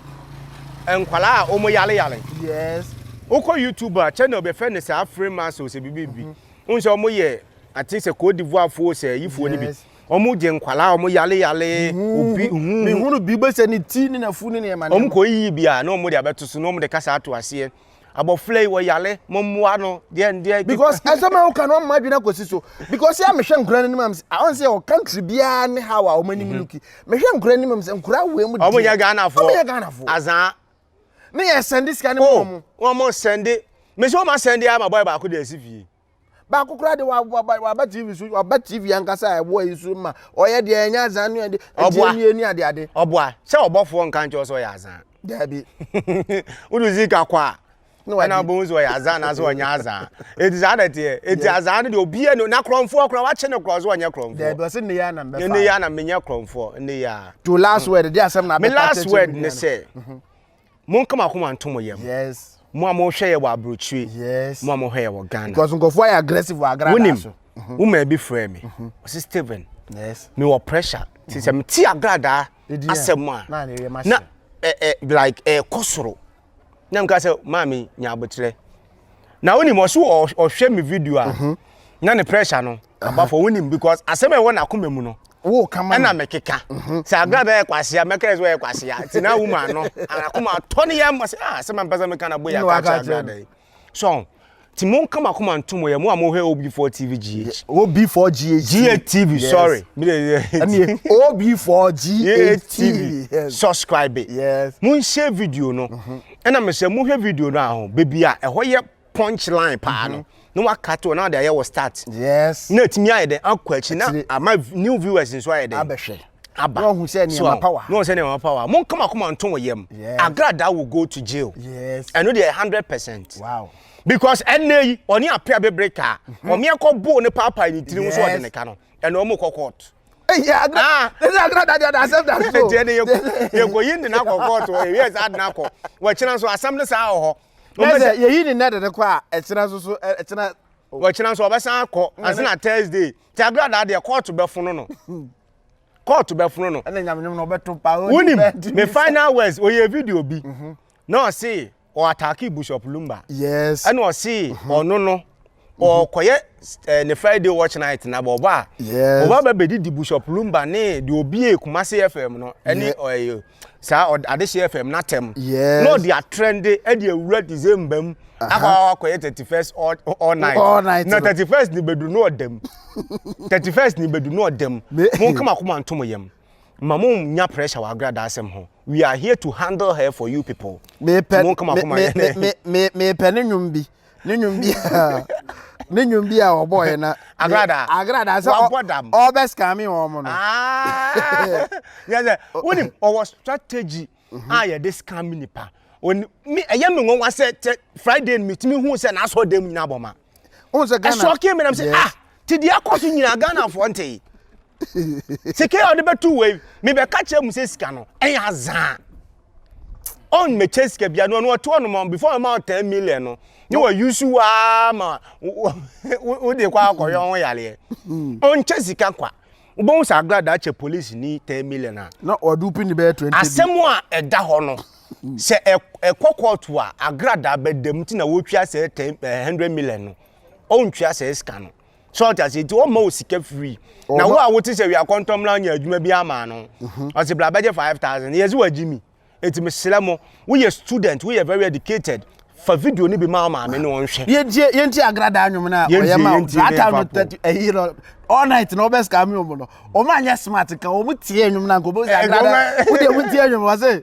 S1: nkwadaa wɔn yale yale yes
S2: wokɔ youtube
S1: a channel bɛfɛ ne saa free muscles bibi bi wɔn sɛ wɔn yɛ. Ate sɛ Côte d'Ivoire foɔ sɛ yifoɔ no bi. Yes. Wɔn gye nkwadaa, wɔn yale yale, obi hu. Mehunu bi
S2: bɛsɛ ne ti ne n'afu ne nneɛma Wɔn nneɛma. kɔ yiyi bi a, na
S1: wɔn de abɛto so, na wɔn de kasa ato aseɛ. Abɔfra yi wɔ yale, mo mmoa no, deɛ ndeɛ. Because asɛm a woka
S2: no ama adwene akɔsi so. Because yɛ a mehwɛ nkora no anim a, mesɛ, ah, ɔn sɛ yɛwɔ country biara ne how a wɔn anim luki. Mehwɛ nkora anim a, mesɛ nkora wei mu deɛ. Wɔn nyɛ Ghana foɔ. Wɔn nyɛ
S1: Ghana foɔ. Azaa. Ne yɛ
S2: sɛnde sika no ma Oh, wɔn. wɔn sɛnde.
S1: Mesɛ wɔn asɛnde ama bɔyɛ baako de asi fie. baako koraa
S2: de waba tv so waba tv ankasa a ɛboa yi so ma ɔyɛ deɛ ɛnyɛ azan ne ɛde ɛdeɛ nie ne ade ade. ɔboa sɛ ɔbɔfoɔ
S1: nka nkyɛw sɛ ɔyɛ azan. daabi.
S2: wode
S1: zika kɔ a ɛna wobɛhu sɛ ɔyɛ azan anaasɛ ɔnyɛ azan ɛti saa na ɛteɛ ɛti azan no deɛ obia no na korɔmfoɔ kora wakye ne korɔ sɛ ɔnyɛ korɔmfoɔ daabi ɔse nneyɛ a na mbɛfa
S2: nneyɛ a na menyɛ korɔmfoɔ
S1: nneyɛ a to last word de asɛm
S2: na abɛfa me last word ne
S1: sɛ mhm. Monka mo akoma nto mo yam. Yes. Mo a mohwɛ
S2: yɛ wɔ
S1: aburokyire. Yes. Mo a mohwɛ yɛ
S2: wɔ Ghana.
S1: Because nkurɔfoɔ ayɛ aggressive
S2: wɔ agradaa so. Wonim, mhm. wo maa bi frɛ
S1: me. Mhm. Ɔsi Steven. Yes. Me wɔ
S2: pressure.
S1: Ti sɛ mhm. me ti agradaa asɛm mu a. Na ne yɛ ma hyɛ. Na ɛ eh, ɛ eh, like ɛ eh, kɔ soro. Na mi ka sɛ maame nya abotrɛ. Na wonim ɔsi ɔhwɛ mi video a. Na ne pressure no. Abafo wo nim because asɛm a ɛwɔ n'akoma mu no. Wo ka ma. Ɛna
S2: mekeka. Mhm.
S1: Sɛ agra bɛyɛ kwasia mɛka sɛ ɔyɛ kwasia. Ti na wo ma no. Akoma atɔ ne yam sɛ ah sɛ mampɛ sɛ meka na boya ka kyerɛ agra dai. So ti mo nka makoma ntomo yɛ mo a mo hwɛ OB4 TV GH. OB4 GH.
S2: GH TV sorry.
S1: Me de ɛne OB4
S2: GH TV.
S1: Subscribe. Yes. Mo nhyɛ
S2: video
S1: no. Mhm. Ɛna me sɛ mo hwɛ video no a ho. Baby a ɛhɔ yɛ punch line paa no na waka to na ɔde ayɛ wɔ start yes na ɛtumi
S2: ayɛ dɛ akɔ
S1: akyi na ama new viewers nso ayɛ dɛ abɛhwɛ aba na ɔhu
S2: sɛ
S1: nneɛma power
S2: na ɔhu sɛ nneɛma power mo
S1: nkama koma nto wɔ yam agrada will go to jail yes ɛno deɛ
S2: hundred
S1: percent wow because
S2: ɛnna
S1: yi ɔne apia bebree kaa mhm. ɔmeɛ kɔ boo ne paapaa ne tirim so ɔde ne ka no ɛna ɔmo kɔ court
S2: yɛkɔyi
S1: nde no akɔ kɔɔto ɛwiɛ saa de no akɔ wɔkyena nso asɛm no saa wɔ hɔ na sɛ yɛyi ne
S2: nnɛ de no kɔ a ɛkyena nso so ɛkyena wɔkyena nso ɔbɛsan
S1: akɔ ɛsɛ na thursday te agradaa deɛ kɔɔto bɛfono no kɔɔto bɛfono no ɛna nyamenyom na ɔbɛto pa
S2: wonim me final
S1: words ɔyɛ video bi mhm. na ɔse ɔatake bishop lumba yes ɛna ɔse
S2: mhm.
S1: ɔno no ɔkɔyɛ eh, ne friday watch night na bɔbɔ a bɔbɔ aba
S2: bɛdidi bishop
S1: lumba ne deɛ obie kumase fm no ɛne ɔyɛ saa adehye fm no atɛm na ɔde atrɛnde ɛde awura december mu akɔ akɔyɛ thirty first all night na thirty first ne bɛdu no ɔdam thirty first ne bɛdu no ɔdam mo nkama koma ntom yam ma mo nya pressure wɔ agrada asɛm ho we are here to handle her for you people mo nkama
S2: koma yɛ ne mepɛ ne nnwom bi ne nnwom bi a ne nnwom bi a wɔbɔɔeɛ na Agrada. agrada sɛ Wabɔ dam. ɔbɛskame wɔn mo no
S1: yɛ sɛ wonim ɔwɔ strategy a yɛde scam nipa Oni- me- ɛyɛ me nwanwa sɛ tɛ friday no metumi hu sɛ n'asɔ dam nyina bɔ ma wohu sɛ ghana
S2: ɛsɔke me nam sɛ Yes. ah
S1: te deɛ akɔ so nyina ghanafoɔ ntee sika a ɔde bɛto wei mebɛka kyerɛ mu sɛ sika no ɛyɛ azaa ɔn mɛkyɛ sika bia no ɔno ɔte hɔ nom before ɔma wo ten million no ne wa use waa ma wo de kɔ akɔyɛ ɔho yareɛ ɔnkyɛ sika kwa wobɛhu sɛ agrada akyɛ police ni ten million a na ɔde wopini bɛyɛ
S2: twenty asɛm a ɛda hɔ
S1: no sɛ ɛkɔ kɔɔto a agrada bɛdam ti na wotwa sɛ ten eh, hundred million no ɔntwa sɛ sika no so ɔte ase nti ɔma wo sika free na wo a wote sɛ wia kɔntɔm na ɔnyɛ adwuma bi ama no mhm. ɔse bra bɛgye 5000 yɛse wagye mi nti mesrɛ mo woyɛ student woyɛ very educated fa video no bi ma maame no ɔnhwɛ yɛntie yɛntie agrada
S2: anwom no a ɔyɛ ma zata no tɛti ɛyi no all night na ɔbɛ sika mi ɔmo no ɔmo anyɛ smart nka ɔmo tie anwom no anka ɔmo sɛ agrada wodeɛ wotie anwom ɔse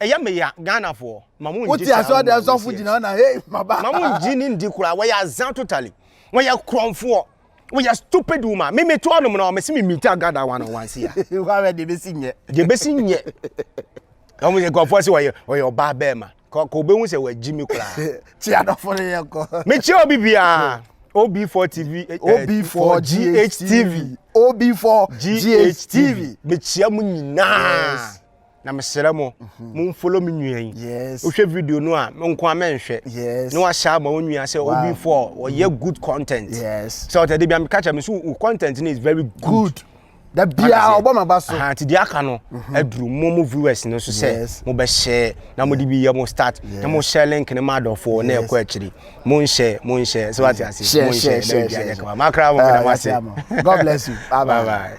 S1: Ɛyɛ me ya Ghanafoɔ ma mo ngye saa woman wei
S2: serious. Ma mo ngye ne ndi
S1: koraa wɔyɛ azaa totally. Wɔyɛ korɔnfoɔ. Wɔyɛ stupid woman. Me me to ɔnom na wɔmese me meet Agatha one on one sia. Wɔawɛ deɛ bɛsi nyɛ.
S2: Deɛ bɛsi nyɛ.
S1: Wɔn yɛ korɔnfoɔ se wɔyɛ wɔyɛ ɔbaa bɛɛma. Kɔ kɔ obɛhu sɛ wɔagyi me koraa. Kyi adɔfo no
S2: yɛ kɔ. Mekyia obi biara.
S1: OB4 TV. OB4
S2: GH TV. OB4 GH TV. Mekyia mo
S1: nyinaa. na mesrɛ mo mhm. momfolo me nua yi wohwɛ video
S2: no a
S1: menko a mɛnhwɛ na wahyɛ ama
S2: wo nua
S1: sɛ obi fo a ɔyɛ mhm. good content sɛ ɔtɛ de bia
S2: meka kyerɛ me
S1: so wo content no is very good da biaa
S2: ɔbɔ ma ba so nti deɛ aka no
S1: mhm. aduru mo mo viewers no so sɛ mobɛhyɛ na mode bi yɛ mo start na mohyɛ link no ma adɔfoɔ na ɛkɔ akyiri monhyɛ monhyɛ sɛ wate ase monhyɛ na biribiaa
S2: nyɛ
S1: kama makra mo meda
S2: mo ase god bless
S1: you bye bye, bye,
S2: bye.